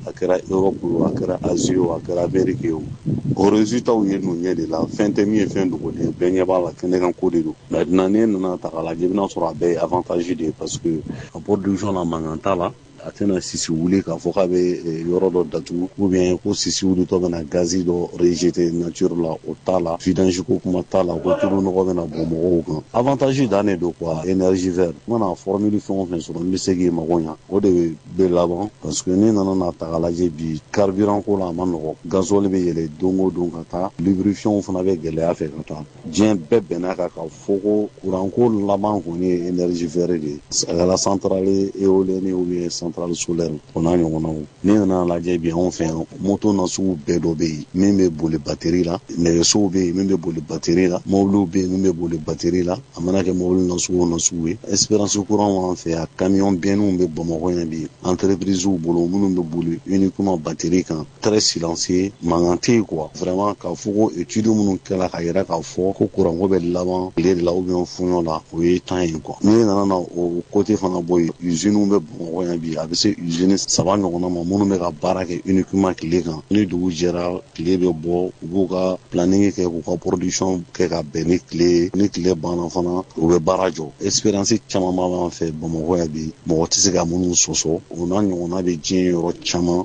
a kɛra europe o a kɛra asie o a kɛra amerique ye o o résultatw ye ninnu ɲɛ de la fɛn tɛ min ye fɛn dogolen bɛɛ ɲɛ b'a la kɛnɛkan ko de don maintenant n'e nana ta k'a lajɛ i bɛna sɔrɔ a bɛɛ ye avantage de ye parce que a production na mankan t'a la a tɛna sisi wuli k'a fɔ k'a bɛ eh, yɔrɔ dɔ datugu ou bien ko sisi wulitɔ bɛna gazi dɔ rejete nature la o t'a la vidange ko kuma t'a la ko tulu nɔgɔ bɛna bɔn mɔgɔw kan avantage dan de don quoi énergie verte mana formule fɛn o fɛn sɔrɔ n bɛ se k'i mago ɲa o de bɛ laban parce que ne nana n'a ta k'a lajɛ bi carburant ko la a ma nɔgɔ gasoil bɛ yɛlɛ don o don ka taa lubrifiant fana bɛ gɛlɛya fɛ ka taa diɲɛ bɛɛ bɛnna kan k'a fɔ ko kuranko laban kɔni ye énergie verte de ye a kɛra centrale éolienne ou bien centrale solaire o n'a ɲɔgɔnnaw n'i nana lajɛ bi anw fɛ yan moto na sugu bɛɛ dɔ bɛ yen min bɛ boli bateri la nɛgɛsow bɛ yen min bɛ boli bateri la mɔbiliw bɛ yen min bɛ boli bateri la a mana kɛ mɔbili na sugu o na sugu ye expérience kura b'an fɛ yan camion bɛnniw bɛ bamakɔ yan bi entreprisew bolo minnu bɛ boli uniquement bateri kan très silencieux mankan tɛ yen quoi vraiment k'a fɔ ko étude minnu kɛra k'a yira k'a fɔ ko kuranko bɛ laban tile de la ou bien fuɲɔ la o ye temps ye quoi n'i nana na o côté fana bɔ yen usine bɛ bamakɔ yan bi a bɛ se usine saba ɲɔgɔnna ma minnu bɛ ka baara kɛ uniquement tile kan ni dugu jɛra tile bɛ bɔ u b'u ka planning kɛ k'u ka production kɛ ka bɛn ni tile ye ni tile banna fana u bɛ baara jɔ expérience caman b'an fɛ bamakɔ yan bi mɔgɔ tɛ se ka minnu sɔsɔ o n'a ɲɔgɔnna bɛ diɲɛ yɔrɔ caman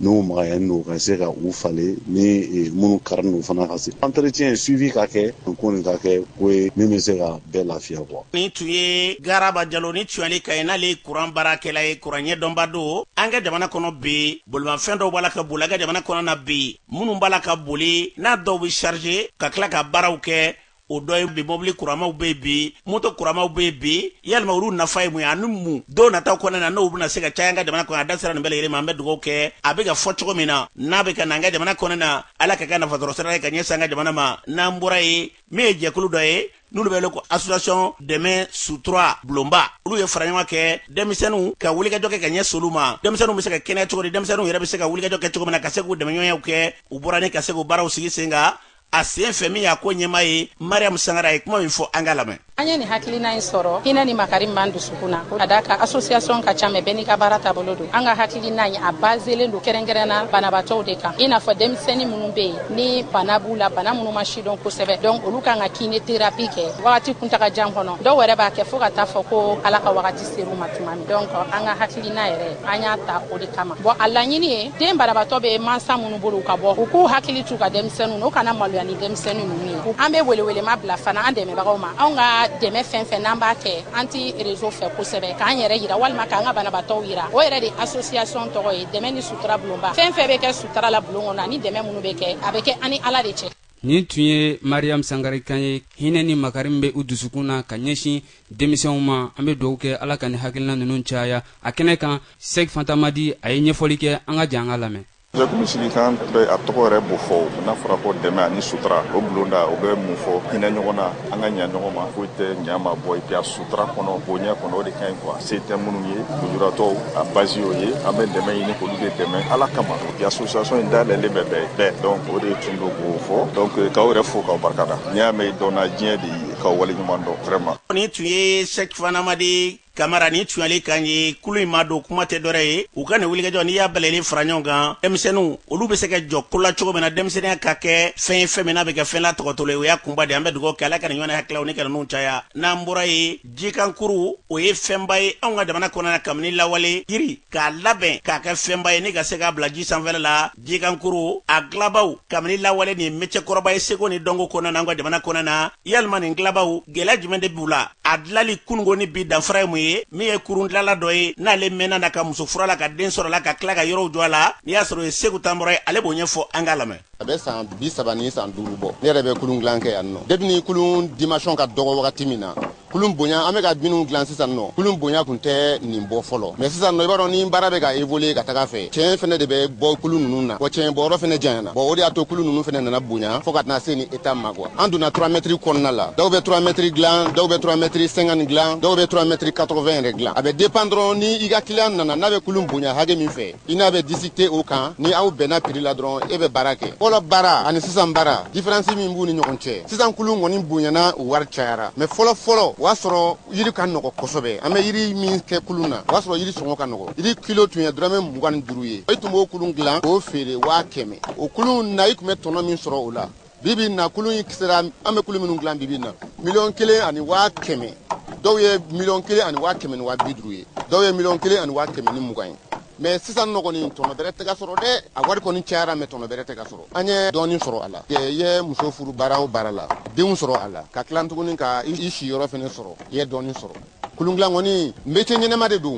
n'o magayani don ka se ka u falen ni e, minnu kari n'u fana ka se entretien suivi ka kɛ ko nin ka kɛ ko ye min bɛ se ka bɛɛ lafiya quoi nin tun ye garaba jalo ni tuyali ka ye n'ale ye kuran baarakɛla ye kuran ɲɛdɔnba don an ka jamana kɔnɔ bi bolimafɛn dɔw b'a la ka boli an ka jamana kɔnɔ na bi minnu b'a la ka boli n'a dɔw bɛ charger ka tila ka baaraw kɛ o dɔ ye bi mɔbili kuramaw bɛ yen bi moto kuramaw bɛ yen bi yalima olu nafa ye mun ye ani mun don nataw kɔnɔna na n'o bɛna se ka caya an ka jamana kɔnɔ a da sera nin bɛɛ lajɛlen ma an bɛ dugawu kɛ a bɛ ka fɔ cogo min na n'a bɛ ka na an ka jamana kɔnɔna na ala k'a kɛ nafa sɔrɔ sira ye ka ɲɛsin an ka jamana ma n'an bɔra yen min ye jɛkulu dɔ ye n'olu bɛ wele ko association dɛmɛ sutura bulonba olu ye fara ɲɔgɔn kɛ denmisɛnninw ka wulikajɔ kɛ ka ɲɛsin olu ma denmisɛnninw bɛ se ka kɛnɛya cogo di denmisɛnninw yɛrɛ bɛ se ka wulikajɔ kɛ cogo min na ka se k'u dɛmɛɲɔgɔnyaw kɛ u bɔra ni ka se k'u baaraw sigi sen kan a sen fɛ min y'a ko ɲɛmaa ye mariam sangara ye kuma min fɔ an k'a lamɛn an ye nin hakilina in sɔrɔ hinɛ ni makari min b'an dusukun na ka d'a kan asosiyasɔn ka ca mais bɛɛ n'i ka baara taabolo don an ka hakilina in a bazelen don kɛrɛnkɛrɛnna banabaatɔw de kan i n'a fɔ denmisɛni minnu bɛ yen ni bana b'u la bana minnu ma sidɔn kosɛbɛ donc olu ka kan ka kine terapi kɛ wagati kuntaga jan kɔnɔ dɔw wɛrɛ b'a kɛ fɔɔ ka t'a fɔ ko ala ka wagati ser'u ma tuma min donc an ka hakilina yɛrɛ an y'a ta o de kama bon a laɲini ye den banabatɔ bɛ mansa minnu bolo u ka bɔ u k'u hakili t'u ka denmisɛnninw na u kana maloya ni denmisɛnnin ninnu ye an bɛ welewelema bila fana an dɛmɛbagaw ma anw ka dɛmɛ fɛn fɛn n'an b'a kɛ an ti réseau fɛ kosɛbɛ k'an yɛrɛ yira walima k'an ka banabatɔw yira o yɛrɛ de asosiyasɔn tɔgɔ ye dɛmɛ ni sutura bulonba fɛn fɛn bɛ kɛ sutura la bulon kɔnɔ ani dɛmɛ minnu bɛ kɛ a bɛ kɛ an ni ala de cɛ nin tun ye mariyamu sangare kan ye hinɛ ni makari min bɛ u dusukun na ka ɲɛsin denmisɛnw ma an bɛ dugawu kɛ ala ka nin hakilina ninnu caya a kɛnɛ kan sɛk fantamadi a ye ɲɛfɔli kɛ an ka jɛ an k'a lamɛn jɛkulu sigikan bɛ a tɔgɔ yɛrɛ b'o fɔ n'a fɔra ko dɛmɛ ani sutura o bulonda o bɛ mun fɔ hinɛ ɲɔgɔn na an ka ɲa ɲɔgɔn ma foyi tɛ ɲa ma bɔ et puis a sutura kɔnɔ bonya kɔnɔ o de ka ɲi kuwa se tɛ minnu ye lujuratɔw a basi y'o ye an bɛ dɛmɛ ɲini k'olu de dɛmɛ ala kama o association in dayɛlɛlen bɛ bɛɛ bɛɛ donc o de tun don k'o fɔ donc k'aw yɛrɛ fo k'aw barika da n'i y'a mɛn dɔnna diɲɛ de ye k'aw wale ɲuman dɔn vraiment nin tun ye sɛki fantamadi kamara nin tun y'ale kan ye kulu in madon kuma tɛ dɔrɛ ye u ka nin wulikajɔ n'i y'a bɛɛ lajɛlen fara ɲɔgɔn kan denmisɛnninw olu bɛ se ka jɔ ko la cogo min na denmisɛnninya ka kɛ fɛn ye fɛn min n'a bɛ kɛ fɛn latopotolen o y'a kunba de an bɛ dugawu kɛ ala ka nin ɲɔgɔnna hakililaw ni ka ninnu caya n'an bɔra yen jikankurun o ye fɛnba ye anw ka jamana kɔnɔna na kabini lawale yiri k'a labɛn k'a kɛ fɛnba ye ni ka se k'a bila ji sanfɛla la jikankurun a dilabaw kabini lawale nin mecɛ kɔrɔba ye seko ni dɔnko kɔnɔna na an ka jamana kɔnɔna na yalima nin dilabaw gɛlɛya jumɛn de b'u la a dilali kunun ko ni bi danfara ye mun ye min ye kurun dilala dɔ ye n'ale mɛnna a la ka muso furu a la ka den sɔrɔ a la ka tila ka yɔrɔw jɔ a la n'i y'a sɔrɔ o ye seku tanbura ye ale b'o ɲɛfɔ an k'a lamɛn a bɛ san bi saba ni san duuru bɔ ne yɛrɛ bɛ kulun dilan kɛ yan nɔ depi ni kulun dimension ka dɔgɔ wagati min na kulun bonya an bɛ ka minnu dilan sisan nɔ kulun bonya tun tɛ nin bɔ fɔlɔ mɛ sisan nɔ i b'a dɔn ni baara bɛ ka évoluer ka taga a fɛ tiɲɛ fɛnɛ de bɛ bɔ kulun ninnu na wa tiɲɛ bɔyɔrɔ fɛnɛ janyana bɔn o de y'a to kulun ninnu fɛnɛ nana bonya fɔɔ ka tɛna se nin état ma kuwa an donna 3 mɛtiri kɔnɔna la dɔw bɛ 3 mɛtiri dilan dɔw bɛ 3 mɛtiri 50 dilan dɔw bɛ 3 mɛtiri 80 yɛrɛ dilan a bɛ dépend dɔrɔn ni i ka kiliyan nana n'a bɛ kulun bonya hakɛ min fɛ i n'a bɛ disikite o kan ni aw bɛnna piri la dɔrɔn e bɛ baara kɛ fɔlɔ baara ani sisan baara diferansi min b'u ni ɲɔgɔn cɛ sisan kulun kɔni bonyana u wari cayara mɛ fɔlɔ fɔlɔ o y'a sɔrɔ yiri ka nɔgɔ kosɛbɛ an bɛ yiri min kɛ kulun na o y'a sɔrɔ yiri sɔngɔ ka nɔgɔ yiri kilo tun ye dɔrɔmɛ mugan ni duuru ye i tun b'o kulun dilan k'o feere waa kɛmɛ o kulun na i tun bɛ tɔnɔ min sɔrɔ o la bibi in na kulun in piri sera an bɛ kulun minnu dilan bibi in na miliyɔn kelen ani waa kɛmɛ dɔw ye miliyɔn kelen ani waa kɛmɛ ni waa bi duuru ye dɔw ye miliyɔn kelen ani waa kɛmɛ ni mugan ye mɛ sisan nɔ kɔni tɔnɔ bɛrɛ tɛ ka sɔrɔ dɛ a wari kɔni cayara mɛ tɔnɔ bɛrɛ tɛ ka sɔrɔ an ye dɔɔnin sɔrɔ a la i ye muso furu baara o baara la denw sɔrɔ a la ka tila tuguni ka i siyɔrɔ fɛnɛ sɔrɔ i ye dɔɔnin sɔrɔ kulundilan kɔni mecɛ ɲɛnɛma de don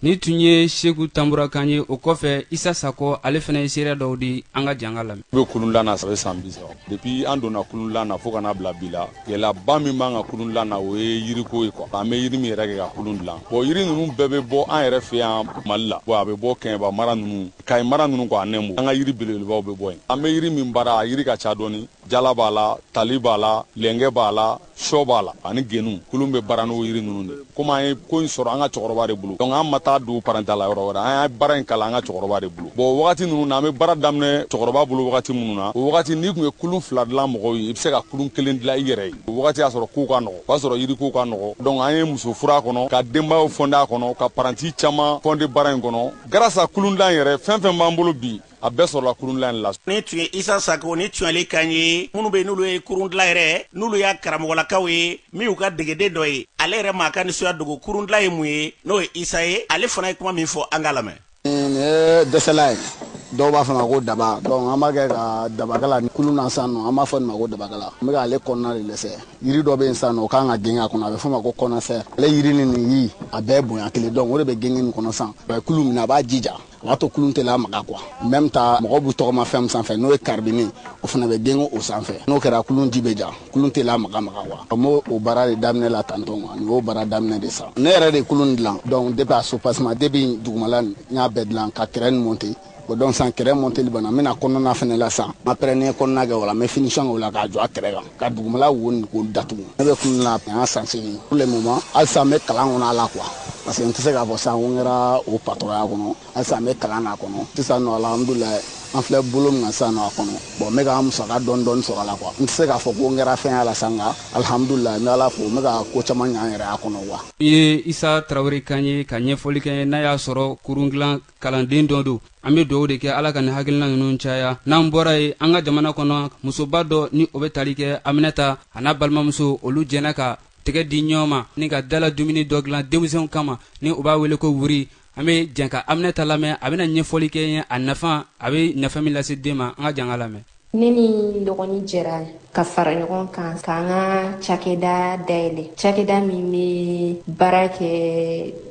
nin tun ye seku tanbura kan ye o kɔfɛ isa sakɔ ale fana ye seereya dɔw di an ka jɛ an k'a lamɛn u bɛ kulundilan na ça fait san bi saba depi an donna kulundilan na fo ka n'a bila bi la gɛlɛyaba min b'an ka kulundilan na o ye yiriko ye kɔ an bɛ yiri min yɛrɛ kɛ ka kulun dilan bɔn yiri ninnu bɛɛ bɛ bɔ an yɛrɛ fɛ yan mali la bɔn a bɛ bɔ kɛɲɛba mara ninnu kayi mara ninnu kɔ a nɛmu an ka yiri belebelebaw bɛ bɔ yen an bɛ yiri min baara a yiri ka ca dɔɔni jala b'a la tali b'a la lɛnkɛ b'a la sɔ b'a la ani genu kulun bɛ baara n'o yiri ninnu de komi an ye ko in sɔrɔ an ka cɛkɔrɔba de bolo donc an ma taa don parantiya la yɔrɔ wɛrɛ an ye baara in kalan an ka cɛkɔrɔba de bolo bon wagati ninnu na an bɛ baara daminɛ cɛkɔrɔba bolo wagati minnu na o wagati n'i tun ye kulun fila dilan mɔgɔw ye i bɛ se ka kulun kelen dilan i yɛrɛ ye o wagati y'a sɔrɔ kow ka nɔgɔ o y'a sɔrɔ yiri kow ka nɔgɔ donc an ye muso furu a kɔnɔ ka denbayaw fɔnde a kɔnɔ ka paranti caman fɔnde baara in kɔnɔ grâce à kulundan yɛrɛ fɛn fɛn b'an bolo bi a bɛɛ sɔrɔla kurundilan in la nin tun ye isa sako ni tuyali kan ye minnu bɛ n'olu ye kurundilan yɛrɛ n'olu y'a karamɔgɔlakaw ye min y'u ka degeden dɔ ye ale yɛrɛ m'a ka nisɔndiya dogo kurundilan ye mun ye n'o ye isa ye ale fana ye kuma min fɔ an k'a lamɛn nin ye dɛsɛlan ye dɔw b'a fɔ ma ko daba donc an b'a kɛ ka dabakala ni kulun na san nɔ an b'a fɔ nin ma ko dabakala n bɛ k'ale kɔnɔna de dɛsɛ yiri dɔ bɛ yen san nɔ o kan ka genge a kɔnɔ a bɛ fɔ ma ko kɔnɔsɛ ale yiri ni nin yiri a bɛɛ bonya kelen donc o de bɛ genge nin kɔnɔ san a bɛ kulun minɛ a b'a jija o b'a to kulun tɛ lamaga quoi même temps mɔgɔw b'u tɔgɔma fɛn min sanfɛ n'o ye karibini o fana bɛ genge o sanfɛ n'o kɛra kulun in bɛ ja kulun tɛ lamagamaga quoi an b'o o baara de daminɛ la tantôt quoi nin y'o baara daminɛ de sa ne yɛrɛ de kulun dilan donc depuis a soubassement depuis dugumala n y'a bɛɛ dilan ka kɛrɛ nin monte o donc san kɛrɛ monteli banna n bɛna kɔnɔna fana la san après ne ye kɔnɔna kɛ o la n bɛ finition kɛ o la k'a jɔ a kɛrɛ kan ka dugumala wo nin k'o datugu ne bɛ kulun na an san segin pour le moment halisa an bɛ kalan kɔnɔ a la quoi parce que n tɛ se k'a fɔ sisan ko n kɛra o patɔrɔnya kɔnɔ halisa an bɛ kalan na kɔnɔ sisan nɔ alhamdulilayi an filɛ bolo min kan sisan nɔ a kɔnɔ bon n bɛ ka musaka dɔɔni dɔɔni sɔrɔ a la quoi n tɛ se k'a fɔ ko n kɛra fɛn y'a la sa nka alhamdulilayi n bɛ ala fo n bɛ ka ko caman ɲɛ n yɛrɛ y'a kɔnɔ quoi. nin ye isa tarawele kan ye ka ɲɛfɔli kɛ n'a y'a sɔrɔ kurun dilan kalanden dɔ don an be duwawu de kɛ ala ka nin hakilina nunu caya n'an bɔra yen an ka jamana kɔnɔ musoba dɔ ni o be tali kɛ aminata a n'a balimamuso olu jɛnna ka tɛgɛ di ɲɔgɔn ma ni ka dala dumuni dɔ dilan denmisɛnw kama ni u b'a wele ko wuri an be jɛn ka aminata lamɛn a bena ɲɛfɔli kɛ an ye a nafa a be nafa min lase den ma an ka jɛn k'a lamɛn ne ni n dɔgɔnin jɛra ka fara ɲɔgɔn kan k'an ka cakɛda dayɛlɛ cakɛda min bɛ baara kɛ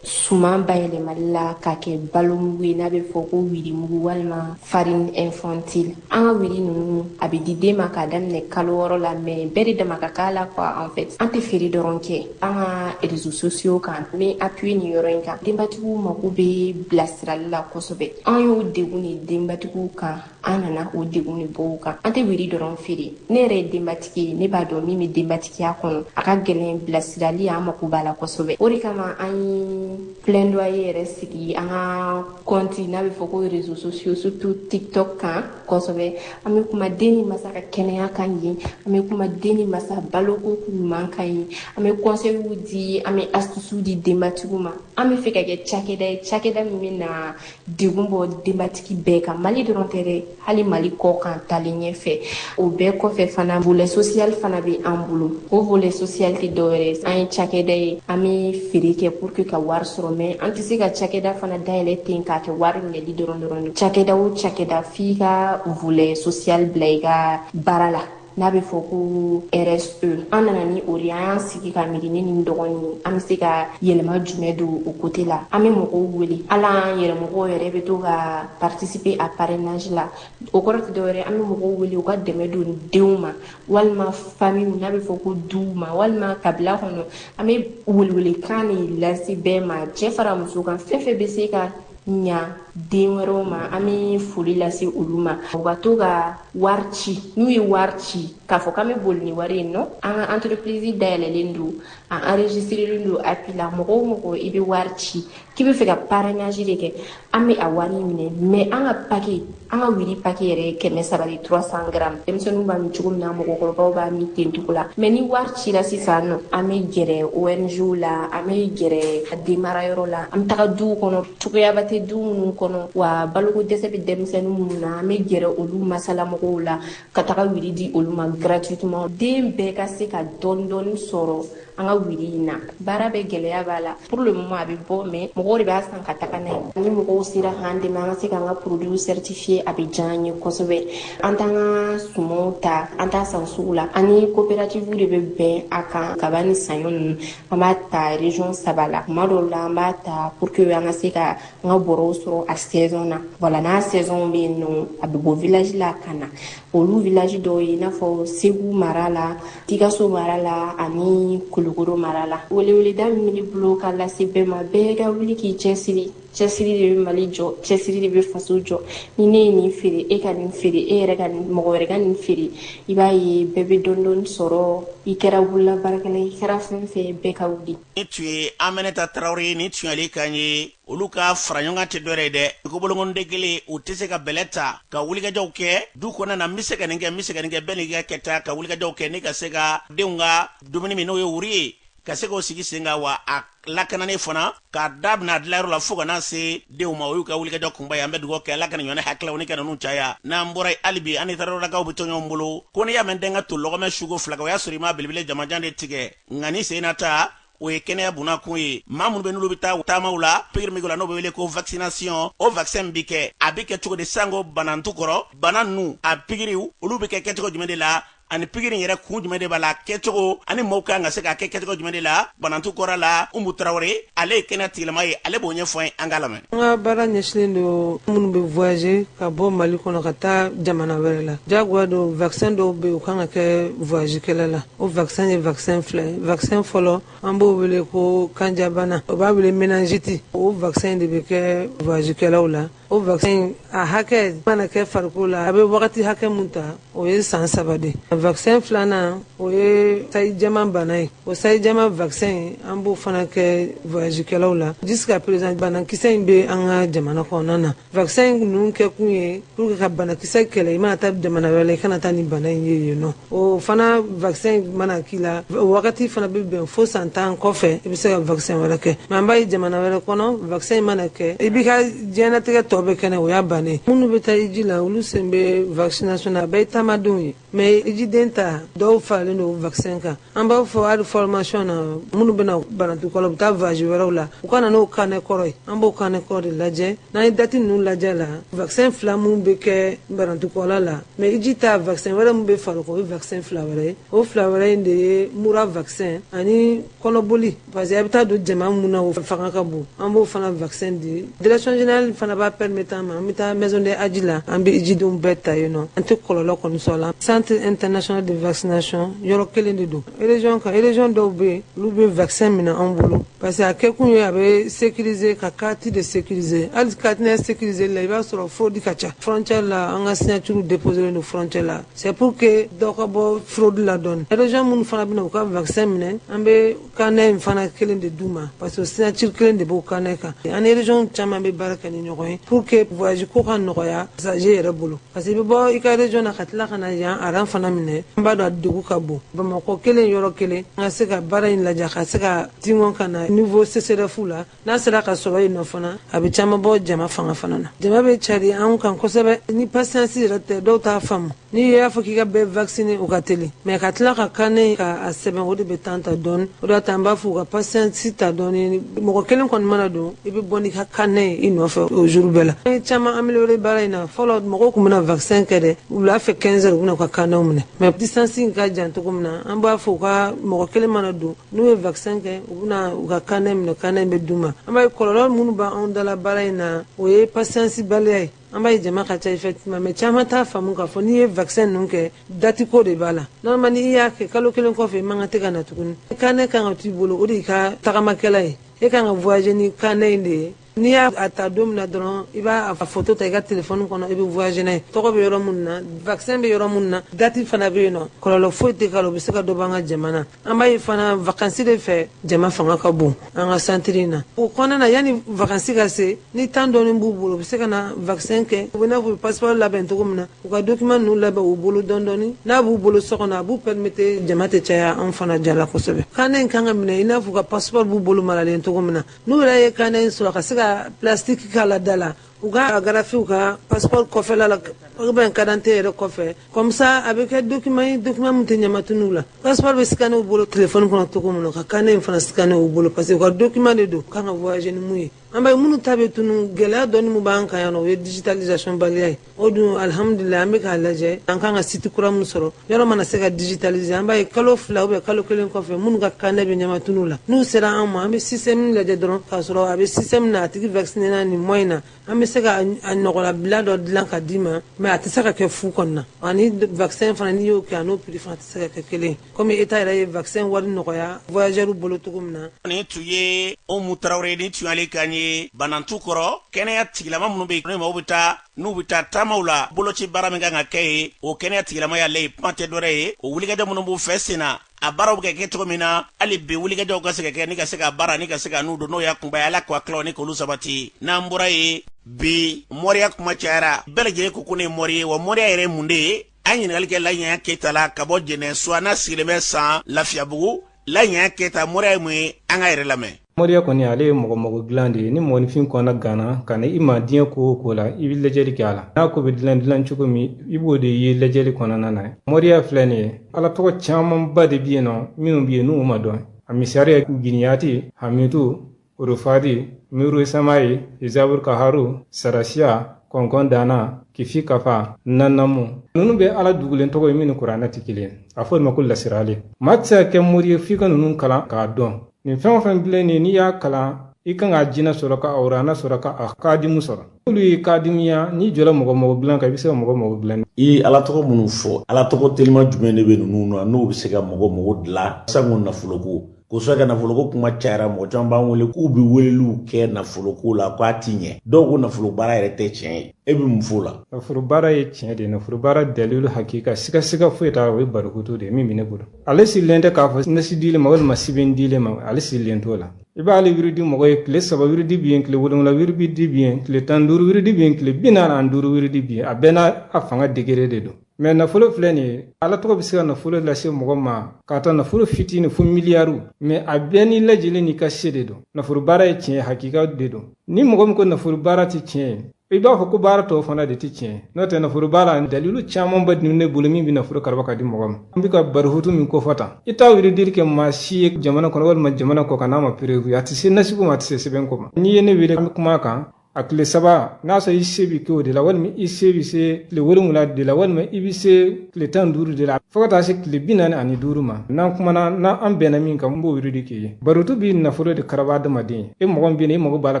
suman bayɛlɛmali la ka kɛ balomugu ye n'a bɛ fɔ ko wirimugu walima farine infantile an ka wiri ninnu a bɛ di den ma k'a daminɛ kalo wɔɔrɔ la mais bɛɛ de dama ka k'a la quoi en fait an tɛ feere dɔrɔn kɛ an ka réseaux sociaux kan n bɛ appuyer nin yɔrɔ in kan denbatigiw mako bɛ bilasirali la kosɛbɛ an y'o degun de denbatigiw kan an nana o degun de bɔ u kan an tɛ wiri dɔrɔn feere ne yɛrɛ ye denbatigi ye ne b'a dɔn min bɛ denbatigiya kɔnɔ a ka gɛlɛn bilasirali an mako b'a la kosɛbɛ o de kama an ye plaidoyer yɛrɛ sigi an ka compte n'a bɛ fɔ ko réseaux sociaux surtout tiktok kan kosɛbɛ an bɛ kuma den ni masa ka kɛnɛya kan yen an bɛ kuma den ni masa baloko ɲuman kan yen an bɛ conseilw di an bɛ astuces di denbatigiw ma an b'a fɛ ka kɛ cakɛda ye cakɛda min bɛ na degun bɔ denbatigi bɛɛ kan mali dɔrɔn tɛ dɛ hali mali kɔ kan taalen ɲɛfɛ o bɛɛ kɔfɛ fana volet social fana bɛ an bolo o volet social tɛ dɔwɛrɛ an ye cakɛda ye an bɛ feere kɛ pour que ka wari sɔrɔ mais an tɛ se ka cakɛda fana dayɛlɛ ten k'a kɛ wari minɛli dɔrɔn dɔrɔn cakɛda o cakɛda f'i ka volet social bila i ka baara la n'a bɛ fɔ ko RSE an nana ni o de an y'an sigi ka miiri ne ni n dɔgɔnin ye an bɛ se ka yɛlɛma jumɛn don o côté la an bɛ mɔgɔw wele hali an yɛrɛ mɔgɔw yɛrɛ bɛ to ka participer a parrainage la o kɔrɔ tɛ dɔwɛrɛ an bɛ mɔgɔw wele u ka dɛmɛ don denw ma walima famiw n'a bɛ fɔ ko duw ma walima kabila kɔnɔ an bɛ welewelekan de lase bɛɛ ma cɛ fara muso kan fɛn fɛn bɛ se ka ɲa den wɛrɛw ma an bɛ foli lase olu ma u ka to ka wari ci n'u ye wari ci k'a fɔ k'an bɛ boli ni wari ye non an ka entreprise dayɛlɛlen don a enregistrelen don API la mɔgɔ o mɔgɔ i bɛ wari ci k'i bɛ fɛ ka parrainage de kɛ an bɛ a wari minɛ mais an ka paquet an ka wuri paquet yɛrɛ ye kɛmɛ saba de trois cents grammes denmisɛnninw b'a min cogo min na mɔgɔkɔrɔbaw b'a min ten cogo la mais ni wari cira sisan nɔ an bɛ gɛrɛ ONG la an bɛ gɛrɛ a denmara yɔrɔ la an bɛ taga duw kɔnɔ cogoyaba tɛ du minnu kɔnɔ wa baloko dɛsɛ bɛ denmisɛnnin minnu na an bɛ gɛrɛ olu masalamɔgɔw la ka taga wuri di olu ma gratuitement den bɛɛ ka se ka dɔɔni dɔɔni sɔrɔ an ka wuri in na baara bɛ gɛlɛya b'a la pour le moment a bɛ bɔ mais mɔgɔw de b'a san ka taga n'a ye ni mɔgɔw sera k'an dɛmɛ an ka se k'an ka produit certifier a bɛ diya an ye kosɛbɛ an t'an ka sumanw ta an t'a san sugu la an ni coopérative de bɛ bɛn a kan kaba ni saɲɔ ninnu an b'a ta région saba la tuma dɔw la an b'a ta pour que an ka se ka an ka bɔrɔw sɔrɔ a saison na voilà n'a saison bɛ yen nɔ a bɛ bɔ village la ka na olu village dɔw ye i n'a fɔ segu mara la sikaso mara la ani kulukoro mara la weleweleda min bɛ n bolo ka lase bɛɛ ma bɛɛ ka wuli k'i cɛsiri cɛsiri de bɛ mali jɔ cɛsiri de bɛ faso jɔ ni ne ye nin feere e ka nin feere e yɛrɛ ka mɔgɔ wɛrɛ ka nin feere i b'a ye bɛɛ bɛ dɔɔni dɔɔni sɔrɔ i kɛra bolola baarakɛla i kɛra fɛn fɛn bɛɛ ka wuli nin tun ye aminata tarawele ye nin tun ye ale kan ye olu ka faraɲɔgɔnkan tɛ dɔwɛrɛ ye dɛ ko bolonkɔninden kelen u tɛ se ka bɛlɛ ta ka wulikajɔw kɛ du kɔnɔna na n bɛ se ka nin kɛ n bɛ se ka nin kɛ bɛɛ n'i ka kɛta ka wulikajɔw kɛ ni ka se ka denw ka dumuni min n'o ye wuri ye ka se k'o sigi sen kan wa a lakananen fana k'a daminɛ a dilayɔrɔ la fo ka na se denw ma o y'u ka wulikajɔ kunba ye an bɛ dugawu kɛ ala ka nin ɲɔgɔn hakililaw ni ko ninnu caya n'an bɔra yen hali bi an ni tarawelelakaw bɛ to ɲɔgɔn bolo ko n'i y'a mɛn den ka to lɔgɔmɛ suko fila kan o y'a sɔrɔ i ma belebele jamanjan de tigɛ nka ni sen na ta o ye kɛnɛya bunakun ye maa minnu bɛ n'olu bɛ taa taamaw la pikiri min la n'o bɛ wele ko vaccination o vaccin bɛ kɛ a bɛ kɛ cogo di sango banantu kɔrɔ bana ninnu a pikiriw olu bɛ kɛ kɛcogo jumɛn de la ani pikiri yɛrɛ kun jumɛn de b'a la kɛcogo ani maaw kan ka se k'a kɛ kɛcogo jumɛn de la banantu kɔrɔ la umu tarawele ale ye kɛnɛya tigilama ye ale b'o ɲɛfɔ an ye an ka lamɛn an ka baara ɲɛsinnen don minnu bɛ voyager ka bɔ mali kɔnɔ ka taa jamana wɛrɛ la jagoya don vaccin dɔw bɛ yen u kan ka kɛ voyage kɛla la o vaccin ye vaccin fila ye vaccin fɔlɔ an b'o wele ko kanjabana o b'a wele méningite o vaccin de bɛ kɛ voyage kɛlaw la o vaccin a hakɛ mana kɛ farikolo la a bɛ wagati hakɛ mun ta o ye san saba de vaccin filanan o ye sayi jama bana ye o sayi jama vaccin an b'o fana kɛ voyage kɛlaw la jusqu'à présent banakisɛ in bɛ an ka jamana kɔnɔna na vaccin ninnu kɛ kun ye pour que ka banakisɛ kɛlɛ i mana taa jamana wɛrɛ la i kana taa ni bana in ye yen nɔ o fana vaccin mana k'i la o wagati fana bɛ bɛn fo san tan kɔfɛ i bɛ se ka vaccin wɛrɛ kɛ mais an b'a ye jamana wɛrɛ kɔnɔ vaccin mana kɛ i b'i ka diɲɛnatigɛ tɔ bɛ kɛnɛ o y'a bannen minnu bɛ taa hiji la olu sen bɛ vaccination na a bɛɛ ye taamadenw ye mais hijiden ta dɔw faralen don vaccin kan an b'a fɔ hali formation na minnu bɛna banatu kɔlɔ bɛ taa voyage wɛrɛw la u ka na n'o carnet kɔrɔ ye an b'o carnet kɔrɔ de lajɛ n'an ye date ninnu lajɛ la vaccin fila minnu bɛ kɛ banatu kɔlɔ la mais hiji ta vaccin wɛrɛ min bɛ far'o kan o ye vaccin fila wɛrɛ ye o fila wɛrɛ in de ye mura vaccin ani kɔnɔboli parce que a bɛ taa don jama mun na o fanga ka bon an b'o fana vaccin di direction générale fana b'a permettre an ma an bɛ taa maison de hadj la an bɛ hijidenw bɛɛ ta yen nɔ an tɛ kɔlɔlɔ kɔni sɔrɔ a la centre international de vaccination yɔrɔ kelen de don région kan région dɔw bɛ yen olu bɛ vaccin minɛ an bolo parce que a kɛkun ye a bɛ sécuriser ka carte de sécuriser hali carte sécuriser la i b'a sɔrɔ fraude ka ca frontière la an ka signature déposélen don frontière la c'est pour que dɔ ka bɔ fraude la dɔɔni région minnu fana bɛna u ka vaccin minɛ an bɛ carnet in fana kelen de d'u ma parce que signature kelen de b'o carnet kan an ni région caman bɛ baara kɛ ni ɲɔgɔn ye pour que voyage ko ka nɔgɔya passager yɛrɛ bolo parce que i bɛ bɔ i ka région na ka tila ka na yan rang fana minɛ an b'a dɔn a degun ka bon bamakɔ kelen yɔrɔ kelen an ka se ka baara in lajɛ ka se ka tingɔn ka na niveau CSRéf la n'a sera ka sɔrɔ yen nɔ fana a bɛ caman bɔ jama fanga fana na jama bɛ cari an kan kosɛbɛ ni patience yɛrɛ tɛ dɔw t'a faamu n'i y'a fɔ k'i ka bɛɛ vacciner o ka teli mais ka tila ka carnet ka a sɛbɛn o de bɛ temps ta dɔɔni o de y'a to an b'a fɔ u ka patience ta dɔɔni mɔgɔ kelen kɔni mana don i bɛ bɔ n'i ka carnet ye i nɔfɛ o jour bɛɛ la an ye caman améliorer baara in na fɔlɔ mɔgɔw tun bɛna vaccin kɛ dɛ wula fɛ 15 heures u bɛna u ka carnetw minɛ mais distance in ka jan cogo min na an b'a fɔ u ka mɔgɔ kelen mana don n'u ye vaccin kɛ u bɛna u ka carnet minɛ carnet bɛ d'u ma an b'a ye kɔlɔlɔ minnu bɛ anw da la baara in na o ye patience baliya ye an b'a ye jama ka ca effectivement mais caman t'a faamu k'a fɔ n'i ye vaccin ninnu kɛ date ko de b'a la normalement n'i y'a kɛ kalo kelen kɔfɛ i man kan tɛ ka na tuguni carnet kan ka to i bolo o de y'i ka tagamakɛla ye e kan ka voyager ni carnet in de ye n'i y'a ta don min na dɔrɔn i b'a foto ta i ka telefɔni kɔnɔ i bɛ voyager n'a ye tɔgɔ bɛ yɔrɔ minnu na vaccin bɛ yɔrɔ minnu na date fana bɛ yen nɔ kɔlɔlɔ foyi tɛ k'a la o bɛ se ka dɔ bɔ an ka jama na an b'a ye fana vacances de fɛ jama fanga ka bon an ka centre in na o kɔnɔna na yanni vacances ka se ni temps dɔɔni b'u bolo u bɛ se ka na vaccin kɛ u bɛ n'a fɔ u bɛ passeport labɛn cogo min na u ka document ninnu labɛn u bolo dɔɔni dɔɔni n'a b'u bolo so kɔnɔ a b'u permettre jama tɛ caya an fana da la kosɛbɛ carnet in kan ka minɛ i n'a fɔ u ka passeport b'u bolo maralen cogo min na n'u yɛrɛ ye carnet in sɔrɔ ka se ka plastique kala da la u k'a agrafer u ka passeport kɔfɛla la ou bien kadante yɛrɛ kɔfɛ comme ça a bɛ kɛ document document min tɛ ɲamatunu la passeport bɛ scanner u bolo telefɔni kɔnɔ cogo min na ka carnet in fana scanner u bolo parce que u ka document de don kan ka voyager ni min ye an bɛ minnu ta bɛ tunun gɛlɛya dɔɔni min b'an kan yan o ye digitalisation baliya ye o dun alihamudulila an bɛ k'a lajɛ an kan ka site kura min sɔrɔ yɔrɔ mana se ka digitaliser an b'a ye kalo fila ou bien kalo kelen kɔfɛ minnu ka carnet bɛ ɲamatunu la n'u sera an ma an bɛ système lajɛ dɔrɔn k'a sɔrɔ a bɛ système na a tigi vaccinéna nin mois in na an bɛ se ka a ɲɔgɔnnabila dɔ dilan ka di ma mais a tɛ se ka kɛ fu kɔnɔna ani vaccin fana n'i y'o kɛ a n'o prix fana tɛ se ka kɛ kelen komi État yɛrɛ ye vaccin wari nɔgɔya voyageurs bolo cogo min na. Nin tun ye Umu Tarawele ni tun y'ale kan ye Banantu kɔrɔ kɛnɛya tigilama minnu bɛ yen n'u bɛ taa n'u bɛ taa taamaw la boloci baara min kan ka kɛ yen o kɛnɛya tigilama y'ale ye kuma tɛ dɔwɛrɛ ye o wulikajɔ minnu b'u fɛ sen na a baaraw bɛ kɛ cogo min na hali bi wulikajɔw ka se ka kɛ ni ka se ka baara ni ka se ka n'u don n'o y'a kunba ye ala k'a tilaw ni k'olu sabati n'an bɔra ye bi mɔriya kuma cayara bɛɛ lajɛlen ko ko ne ye mɔri ye wa mɔriya yɛrɛ ye mun de ye an ɲininkali kɛ laɲɛya keyita la ka bɔ jɛnɛ suwa n'a sigilen bɛ san lafiyabugu laɲɛya keyita moriya ye mun ye an k'a yɛrɛ lamɛn moriya kɔni ale ye mɔgɔ mago dilan de ye ni mɔgɔninfin kɔnna ganna ka na i ma diɲɛ ko o ko la i bɛ lajɛli kɛ a la n'a ko bɛ dilan dilan cogo min i b'o de ye lajɛli kɔnɔna na moriya filɛ nin ye ala tɔgɔ camanba de bɛ yen nɔ minnu bɛ yen n'u ma dɔn a misali ye giniyati hamitu Urufadi, Nuru Samai, Izabur Kaharu, Sarasiya, kɔnkɔn dana kifi kafa nanamu ninnu bɛ ala dugulen tɔgɔ ye minnu kuranɛ tɛ kelen a fɔ ma ko lasirali maa tɛ se ka kɛ mori ye f'i ka ninnu kalan k'a dɔn nin fɛn o fɛn filɛ nin n'i y'a kalan i kan k'a jinɛ sɔrɔ ka awurana sɔrɔ ka a kadimu sɔrɔ n'olu y'i kadimuya n'i jɔra mɔgɔ mago dilan kan i bɛ se ka mɔgɔ mago dilan i ala tɔgɔ minnu fɔ ala tɔgɔ telima jumɛn de bɛ ninnu na n'o bɛ se ka mɔgɔ mago dilan sango nafolo ko kosɔn ka nafoloko kuma cayara mɔgɔ caman b'an wele k'u bɛ weleliw kɛ nafoloko la k'a ti ɲɛ dɔw ko nafolo baara yɛrɛ tɛ tiɲɛ ye e bɛ mun f'o la nafolo baara ye tiɲɛ de ye nafolo baara dalilu hakika sigasiga foyi t'a la o ye barikoto de ye min bɛ ne bolo ale sigilen tɛ k'a fɔ nasi dilen ma walima sɛbɛn dilen ma ale sigilen t'o la i b'ale wiridi mɔgɔ ye tile saba wiridi bi yen tile wolonwula wiridi bi yen tile tan duuru wiridi bi yen tile bi naani ani duuru wiridi bi yen a bɛɛ n'a fanga degere de don mɛ nafolo filɛ nin ye ala tɔgɔ bɛ se ka nafolo lase mɔgɔ ma k'a ta nafolo fitini fo miliyariw mɛ a bɛɛ ni lajɛlen n'i ka se de don nafolo baara ye tiɲɛ hakika de don ni mɔgɔ min ko nafolo baara tɛ tiɲɛ ye i b'a fɔ ko baara tɔw fana de tɛ tiɲɛ n'o tɛ nafolo baara dalilu camanba de ne bolo min bɛ nafolo karaba ka di mɔgɔ ma an bɛ ka barihutu min kofɔ tan i t'a wiridili kɛ maa si ye jamana kɔnɔ walima jamana kɔ kan n'a ma perewu a tɛ se nasi ko ma a tɛ se sɛbɛn ko ma n'i ye ne wele an bɛ kuma kan a tile saba n'a sɔrɔ i se bɛ kɛ o de la walima i se bɛ se tile wolonwula de la walima i bɛ se tile tan duuru de la fo ka taa se tile bi naani ani duuru ma n'an kumana n'an bɛnna min kan n b'o wiridi k'i ye barotu bɛ nafolo de karaba adamaden e mɔgɔ min bɛ yen i mago b'a la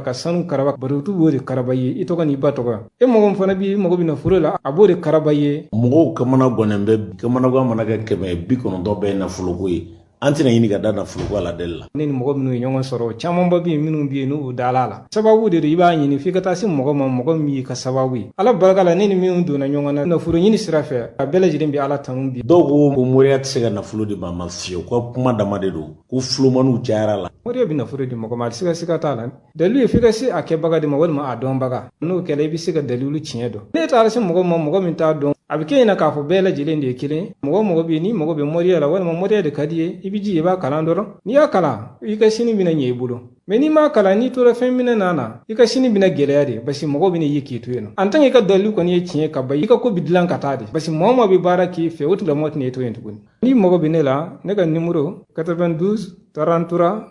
ka sanu karaba barotu b'o de karaba ye i tɔgɔ n'i ba tɔgɔ e mɔgɔ min fana b'i mago bɛ nafolo la a b'o de karaba ye mɔgɔw kamanagannen bɛ kamanagan mana kɛ kɛmɛ bi kɔnɔntɔn bɛɛ nafoloko ye an tɛna ɲini ka da nafoloko aladeli la ne ni mɔgɔ minnu ye ɲɔgɔn sɔrɔ camanba bɛ yen minnu bɛ yen n'u dala a la sababu de don i b'a ɲini f'i ka taa se mɔgɔ ma mɔgɔ min y'i ka sababu ye ala barika la ne ni minnu donna ɲɔgɔn na nafolo ɲini sira fɛ a bɛɛ lajɛlen bɛ ala tanu bi dɔw ko ko moriya tɛ se ka nafolo di maa ma fiyewu ko kuma dama de don ko fulomaniw cayara la moriya bɛ nafolo di mɔgɔ ma a tɛ se ka siga t'a la Dalilu ye f'i ka se a kɛbaga de ma walima a dɔnbaga n'o kɛra i bɛ se ka dalilu tiɲɛ dɔn n'e taara se mɔgɔ ma mɔgɔ min t'a dɔn a bɛ kɛ i ɲɛ na k'a fɔ bɛɛ lajɛlen de ye kelen mɔgɔ mɔgɔ bɛ yen n'i mago bɛ moriya la walima moriya de ka di i ye i bɛ ji i b'a kalan dɔrɔn n'i y'a kalan i ka sini bɛna ɲɛ i bolo mɛ n'i m'a kalan n'i tora fɛn minɛ na na i ka sini bɛna gɛlɛya de parce que mɔgɔ bɛna ye k'i to yen nɔ en tant que i ka dalilu kɔni ye tiɲɛ ka ban i ka ko bɛ dilan ka taa de parce que mɔgɔ mɔgɔ bɛ baara k'i fɛ o tigilamɔgɔ tɛna e to yen tuguni n'i mago bɛ ne la ne ka nimoro 92 33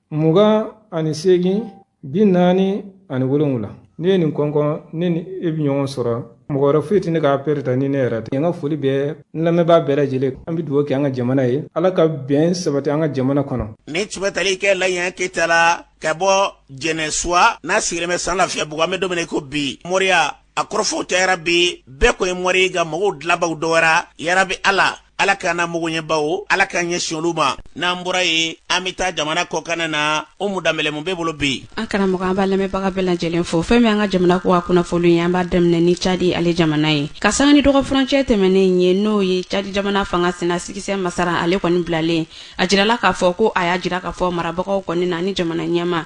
mugan ani seegin bi naani ani wolonwula n'e ye nin kɔnkɔn ne ni e bi ɲɔgɔn sɔrɔ mɔgɔ wɛrɛ foyi tɛ ne ka apɛli ta ni ne yɛrɛ tɛ an ka foli bɛ n lamɛnbaa bɛɛ lajɛlen an bɛ dugawu kɛ an ka jamana ye ala ka bɛn sabati an ka jamana kɔnɔ nin tun bɛ tali kɛ laɲɛ keyita la ka bɔ jɛnɛsuwa n'a sigilen bɛ san lafiyabugu an bɛ don min na ko bi moriya a kɔrɔfɔw cayara bi bɛɛ ko ye mori nka mago dilanbaw dɔgɔyara yarabi ala ala k'an na magoɲɛbaw ala k'an ɲɛsin olu ma n'an bɔra yen an bɛ taa jamana kɔkan na Umu Danbɛlɛ mun b'i bolo bi an karamɔgɔ an b'a lamɛnbaga bɛɛ lajɛlen fo fɛn min an ka jamana kɔkan kunnafoni ye an b'a daminɛ ni cadi ale jamana ye ka san ni dɔgɔfcɛ tɛmɛnen ye n'o ye cadi jamana fanga sina Sikisɛ Masara ale kɔni bilalen a jirala k'a fɔ ko a y'a jira k'a fɔ marabagaw kɔni na ni jamana ɲɛma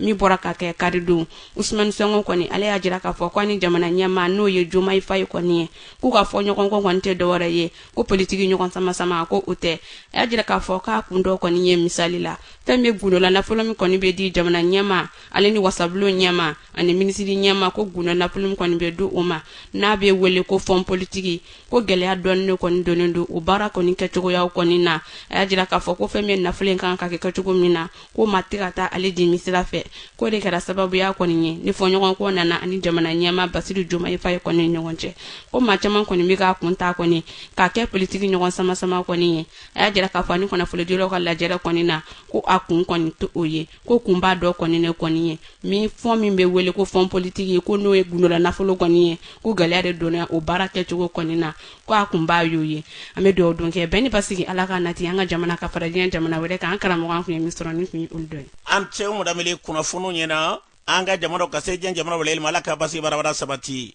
min bɔra ka kɛ karidon usumani sonko kɔni ale y'a jira k'a fɔ ko a ni jamana ɲɛma n'o ye jomayi fayi kɔni ye k'u ka fɔɲɔgɔnkɔ kɔni tɛ dɔwɛrɛ ye ko politiki ɲɔgɔn samasama ko o tɛ a y'a jira k'a fɔ k'a kun dɔ kɔni ye misali la fɛn bɛ gundola nafolo min kɔni bɛ di jamana ɲɛma ale ni wasabulon ɲɛma ani minisiri ɲɛma ko gundo nafolo min kɔni bɛ di o ma n'a bɛ wele ko fɔn politiki ko gɛlɛya dɔɔni de kɔni donnen don o baara kɔni kɛcogoyaw kɔni na a y'a jira k'a fɔ ko fɛn bɛ nafolo in kan ka kɛ kɛcogo min na ko ma tɛ ka taa ale dimi sira fɛ k'o de kɛra sababuya kɔni ye ni fɔɲɔgɔnkɔ nana a ni jamana ɲɛma basiru jomayi fayi kɔni ɲɔgɔn cɛ ko maa caman kɔni bɛ k'a kun ta kɔni k'a kɛ politiki ɲɔgɔn samasama kɔni ye a y'a jira k'a fɔ a ni kunnafonidilaw ka lajɛrɛ kɔni na ko a kun kɔni t'o ye ko kunba dɔ kɔni de kɔni ye min fɔn min bɛ wele ko fɔn politiki ye ko n'o ye gundola nafolo kɔni ye ko gɛlɛya de donna o baara kɛcogo kɔni na ko a kunba y'o ye an bɛ dugawu don kɛ bɛn ni basigi ala k'a nati an ka jamana ka fara diɲɛ jamana wɛrɛ kan an karamɔgɔ an kun ye min sɔrɔ nin kun ye olu dɔ ye a ni ce umu danbele kunnafoniw ɲɛna an ka jamana ka se diɲɛ jamana wɛrɛ ma ala ka basigi barabara sabati